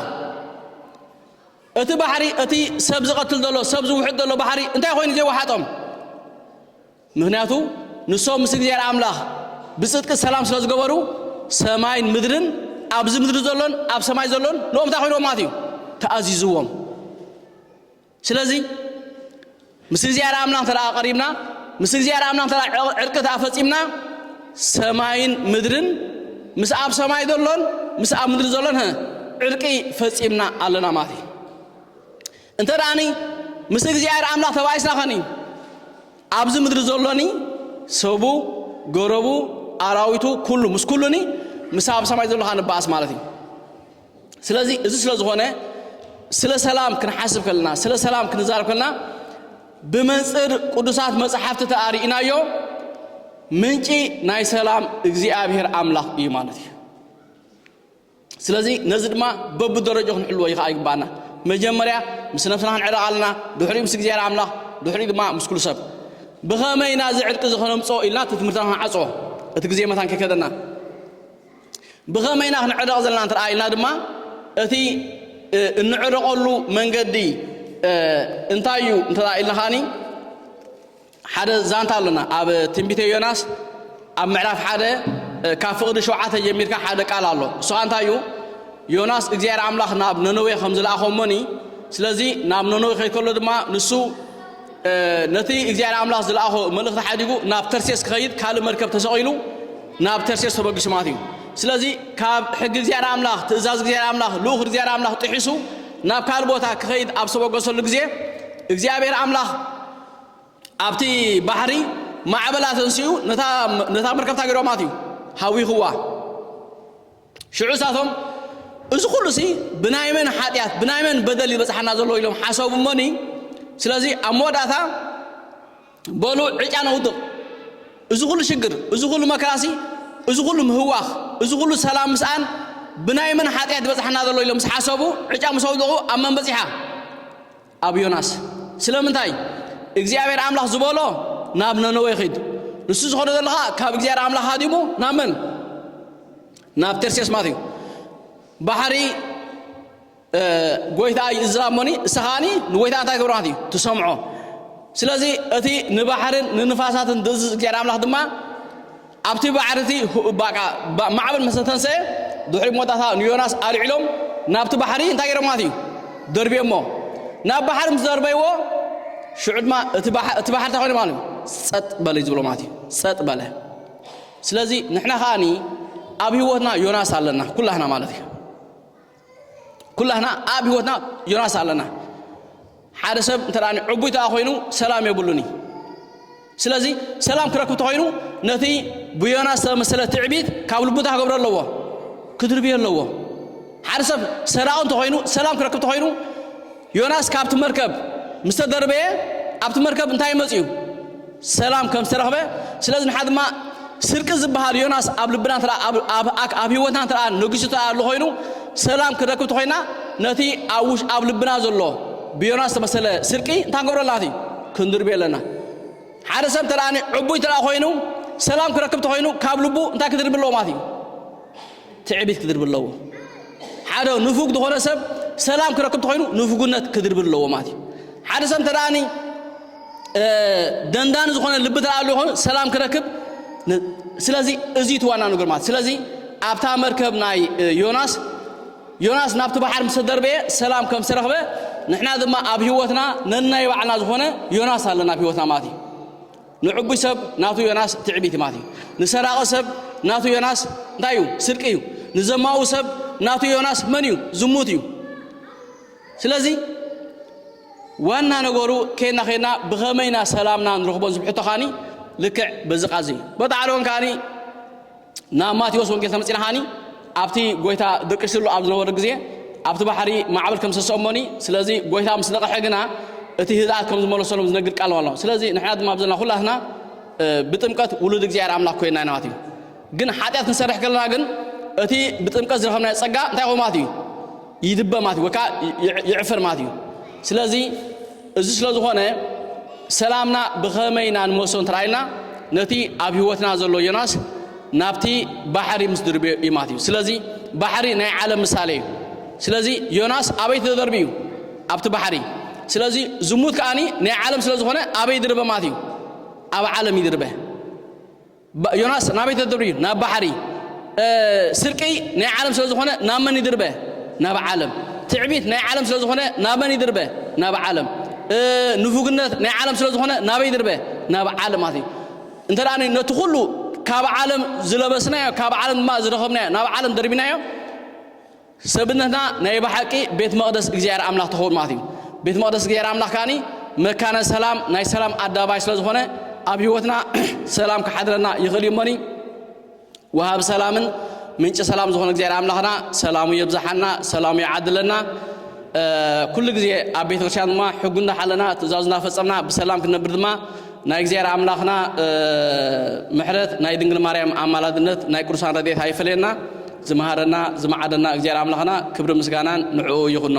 እቲ ባሕሪ እቲ ሰብ ዝቐትል ዘሎ ሰብ ዝውሕጥ ዘሎ ባሕሪ እንታይ ኮይኑ ዘይወሓጦም ምክንያቱ ንሶም ምስ እግዚኣብሔር ኣምላኽ ብጽድቂ ሰላም ስለ ዝገበሩ ሰማይን ምድርን ኣብዚ ምድሪ ዘሎን ኣብ ሰማይ ዘሎን ንኦም እንታይ ኮይንዎም ማለት እዩ ተኣዚዝዎም ስለዚ ምስ እግዚኣብሔር ኣምላኽ እንተ ቀሪብና ምስ እግዚኣብሔር ኣምላኽ እንተ ዕርቂ እንተ ፈጺምና ሰማይን ምድርን ምስ ኣብ ሰማይ ዘሎን ምስ ኣብ ምድሪ ዘሎን ዕርቂ ፈጺምና ኣለና ማለት እዩ እንተ ደኣኒ ምስ እግዚኣብሔር ኣምላኽ ተባይስና ኸኒ ኣብዚ ምድሪ ዘሎኒ ሰቡ ገረቡ ኣራዊቱ ኩሉ ምስ ኩሉኒ ምስ ኣብ ሰማይ ዘሎ ኸዓ ንበኣስ ማለት እዩ ስለዚ እዚ ስለ ዝኾነ ስለ ሰላም ክንሓስብ ከለና ስለ ሰላም ክንዛረብ ከለና ብመንፅር ቅዱሳት መፅሓፍቲ ተኣሪእናዮ ምንጪ ናይ ሰላም እግዚኣብሔር ኣምላኽ እዩ ማለት እዩ ስለዚ ነዚ ድማ በብደረጃ ክንሕልዎ ይኸዓ ይግባኣና መጀመርያ ምስ ነብስና ክንዕረቕ ኣለና ድሕሪኡ ምስ እግዚኣብሔር ኣምላኽ ድሕሪኡ ድማ ምስ ኩሉ ሰብ ብኸመይ ኢና እዚ ዕርቂ እዚ ከነምፅኦ ኢልና እቲ ትምህርትና ክንዓፅኦ እቲ ግዜ መታን ከይከደና ብኸመይ ኢና ክንዕረቕ ዘለና እንተረኣይና ድማ እቲ እንዕረቐሉ መንገዲ እንታይ እዩ እንተረኣ ኢልና ኸዓኒ ሓደ ዛንታ ኣሎና ኣብ ትንቢተ ዮናስ ኣብ ምዕራፍ ሓደ ካብ ፍቕዲ ሸውዓተ ጀሚርካ ሓደ ቃል ኣሎ እሱኻ እንታይ እዩ ዮናስ እግዚኣብሔር ኣምላኽ ናብ ነነዌ ከም ዝለኣኸሞኒ ስለዚ ናብ ነነዌ ከይከሎ ድማ ንሱ ነቲ እግዚኣብሔር ኣምላኽ ዝለኣኾ መልእኽቲ ሓዲጉ ናብ ተርሴስ ክኸይድ ካልእ መርከብ ተሰቒሉ ናብ ተርሴስ ተበጊሱ ማለት እዩ። ስለዚ ካብ ሕጊ እግዚኣብሔር ኣምላኽ፣ ትእዛዝ እግዚኣብሔር ኣምላኽ፣ ልኡኽ እግዚኣብሔር ኣምላኽ ጥሒሱ ናብ ካልእ ቦታ ክኸይድ ኣብ ዝተበገሰሉ ግዜ እግዚኣብሔር ኣምላኽ ኣብቲ ባሕሪ ማዕበላ ተንስኡ ነታ መርከብታ ገይርዋ ማለት እዩ ሃዊኽዋ። ሽዑ እሳቶም እዚ ኹሉሲ ብናይ መን ሓጢኣት ብናይ መን በደል ይበጽሓና ዘሎ ኢሎም ሓሰቡ እሞኒ ስለዚ ኣብ መወዳእታ በሉ ዕጫ ነውድቕ እዚ ኹሉ ሽግር እዚ ኹሉ መከራሲ እዚ ኹሉ ምህዋኽ እዚ ኹሉ ሰላም ምስኣን ብናይ መን ሓጢኣት ይበጽሓና ዘሎ ኢሎም ምስ ሓሰቡ ዕጫ ምስ ኣውደቑ ኣብ መን በጺሓ ኣብ ዮናስ ስለምንታይ እግዚኣብሔር ኣምላኽ ዝበሎ ናብ ነነዌ ኺድ ንሱ ዝኾነ ዘሎ ኸዓ ካብ እግዚኣብሔር ኣምላኽ ሃዲሙ ናብ መን ናብ ተርሴስ ማለት እዩ ባሕሪ ጎይታ እዩ እዝራሞኒ እስኻኒ ንጎይታ እንታይ ክብሮ ማለት እዩ ትሰምዖ ስለዚ እቲ ንባሕርን ንንፋሳትን ዝእዝዝ እግዚኣብሔር ኣምላኽ ድማ ኣብቲ ባሕሪ'ቲ ማዕበል ምስ ተተንሰኤ፣ ድሕሪ መወዳእታ ንዮናስ ኣልዒሎም ናብቲ ባሕሪ እንታይ ገይሮምዋ እዩ? ደርብዮሞ። ናብ ባሕሪ ምስ ደርበይዎ፣ ሽዑ ድማ እቲ ባሕሪ እንታይ ኮይኑ ማለት እዩ? ጸጥ በለ እዩ ዝብሎ ማለት እዩ። ጸጥ በለ። ስለዚ ንሕና ከኣኒ ኣብ ህይወትና ዮናስ ኣለና ኩላህና ማለት እዩ። ኩላህና ኣብ ህይወትና ዮናስ ኣለና ሓደ ሰብ እንተ ዕቡይ ተኣ ኮይኑ ሰላም የብሉን እዩ ስለዚ ሰላም ክረክብ ተኮይኑ ነቲ ብዮናስ ዝተመሰለ ትዕቢት ካብ ልቡታ ክገብሮ ኣለዎ ክድርብዮ ኣለዎ ሓደ ሰብ ሰራቂ እንተኮይኑ ሰላም ክረክብ ተኮይኑ ዮናስ ካብቲ መርከብ ምስ ተደርበየ፣ ኣብቲ መርከብ እንታይ መጺኡ? ሰላም ከም ዝተረኽበ። ስለዚ ንሓ ድማ ስርቂ ዝበሃል ዮናስ ኣብ ልብና እንተ ኣብ ህይወትና እንተ ነጊሱ እንተ ኣሎ ኮይኑ ሰላም ክንረክብ ተኾይና ነቲ ኣብ ልብና ዘሎ ብዮናስ ዝተመሰለ ስርቂ እንታይ ክንገብሮ ኣለና እቲ ክንድርብዮ ኣለና። ሓደ ሰብ እንተ ዕቡይ እንተ ኮይኑ ሰላም ክረክብ ተኾይኑ ካብ ልቡ እንታይ ክድርቢ ኣለዎ ማለት እዩ? ትዕቢት ክድርቢ ኣለዎ። ሓደ ንፉግ ዝኾነ ሰብ ሰላም ክረክብ ተኾይኑ ንፉግነት ክድርቢ ኣለዎ ማለት እዩ። ሓደ ሰብ እንተ ደኣኒ ደንዳኒ ዝኾነ ልቢ ተኣ ኣለዎ ኮይኑ ሰላም ክረክብ ስለዚ እዚ እቲ ዋና ነገር ማለት ስለዚ ኣብታ መርከብ ናይ ዮናስ ዮናስ ናብቲ ባሕር ምስ ተደርበየ ሰላም ከም ዝተረኽበ ንሕና ድማ ኣብ ህይወትና ነናይ ባዕልና ዝኾነ ዮናስ ኣለና ኣብ ህይወትና ማለት እዩ ንዕቡይ ሰብ ናቱ ዮናስ ትዕቢት ማለት እዩ። ንሰራቂ ሰብ ናቱ ዮናስ እንታይ እዩ? ስርቂ እዩ። ንዘማኡ ሰብ ናቱ ዮናስ መን እዩ? ዝሙት እዩ። ስለዚ ዋና ነገሩ ከና ከና ብኸመይና ሰላምና ንረኽቦን ዝብሕቶ ካኒ ልክዕ በዚ ቃዚ እዩ። በታ ዓለወን ካኒ ናብ ማቴዎስ ወንጌል ተመጺናሃኒ ኣብቲ ጎይታ ድቅሽሉ ኣብ ዝነበረ ግዜ ኣብቲ ባሕሪ ማዕበል ከም ሰሰኦሞኒ ስለዚ ጎይታ ምስ ነቐሐ ግና እቲ ህዝኣት ከም ዝመለሰሎም ዝነግር ቃል ኣሎ ስለዚ ንሕና ድማ ኣብዘና ኩላትና ብጥምቀት ውሉድ እግዚኣብሔር ኣምላኽ ኮይና ኢና ማለት እዩ ግን ሓጢኣት ክንሰርሕ ከለና ግን እቲ ብጥምቀት ዝረኸብናዮ ጸጋ እንታይ ኮይኑ ማለት እዩ ይድበ ማለት እዩ ወይ ከዓ ይዕፍር ማለት እዩ ስለዚ እዚ ስለ ዝኾነ ሰላምና ብኸመይ ኢና ንመሶ እንተረኣይና ነቲ ኣብ ህይወትና ዘሎ ዮናስ ናብቲ ባሕሪ ምስ ድርብዮ እዩ ማለት እዩ ስለዚ ባሕሪ ናይ ዓለም ምሳሌ እዩ ስለዚ ዮናስ ኣበይ ተደርቢ እዩ ኣብቲ ባሕሪ ስለዚ ዝሙት ከዓኒ ናይ ዓለም ስለ ዝኾነ ኣበይ ድርበ ማለት እዩ ኣብ ዓለም ይድርበ ዮናስ ናበይ ተድርብ እዩ ናብ ባሕሪ ስርቂ ናይ ዓለም ስለ ዝኾነ ናብ መን ይድርበ ናብ ዓለም ትዕቢት ናይ ዓለም ስለ ዝኾነ ናብ መን ይድርበ ናብ ዓለም ንፉግነት ናይ ዓለም ስለ ዝኾነ ናበይ ይድርበ ናብ ዓለም ማለት እዩ እንተ ደኣ ነቲ ኩሉ ካብ ዓለም ዝለበስናዮ ካብ ዓለም ድማ ዝረኸብናዮ ናብ ዓለም ደርቢናዮ ሰብነትና ናይ ብሓቂ ቤት መቕደስ እግዚኣብሔር ኣምላኽ ትኸውን ማለት እዩ። ቤት መቕደስ እግዚኣብሔር ኣምላኽ ከዓኒ መካነ ሰላም ናይ ሰላም ኣደባባይ ስለ ዝኾነ ኣብ ህይወትና ሰላም ክሓድረና ይኽእል እዩ እሞኒ ወሃብ ሰላምን ምንጭ ሰላም ዝኾነ እግዚኣብሔር ኣምላኽና ሰላሙ የብዛሓና ሰላሙ ይዓድለና ኩሉ ግዜ ኣብ ቤተክርስትያን ድማ ሕጉ እንዳሓለና ትእዛዙ እናፈፀምና ብሰላም ክንነብር ድማ ናይ እግዚኣብሔር ኣምላኽና ምሕረት ናይ ድንግል ማርያም ኣማላድነት ናይ ቅዱሳን ረድኤት ኣይፈለየና ዝመሃረና ዝመዓደና እግዚኣብሔር ኣምላኽና ክብሪ ምስጋናን ንዕኡ ይኹኖ።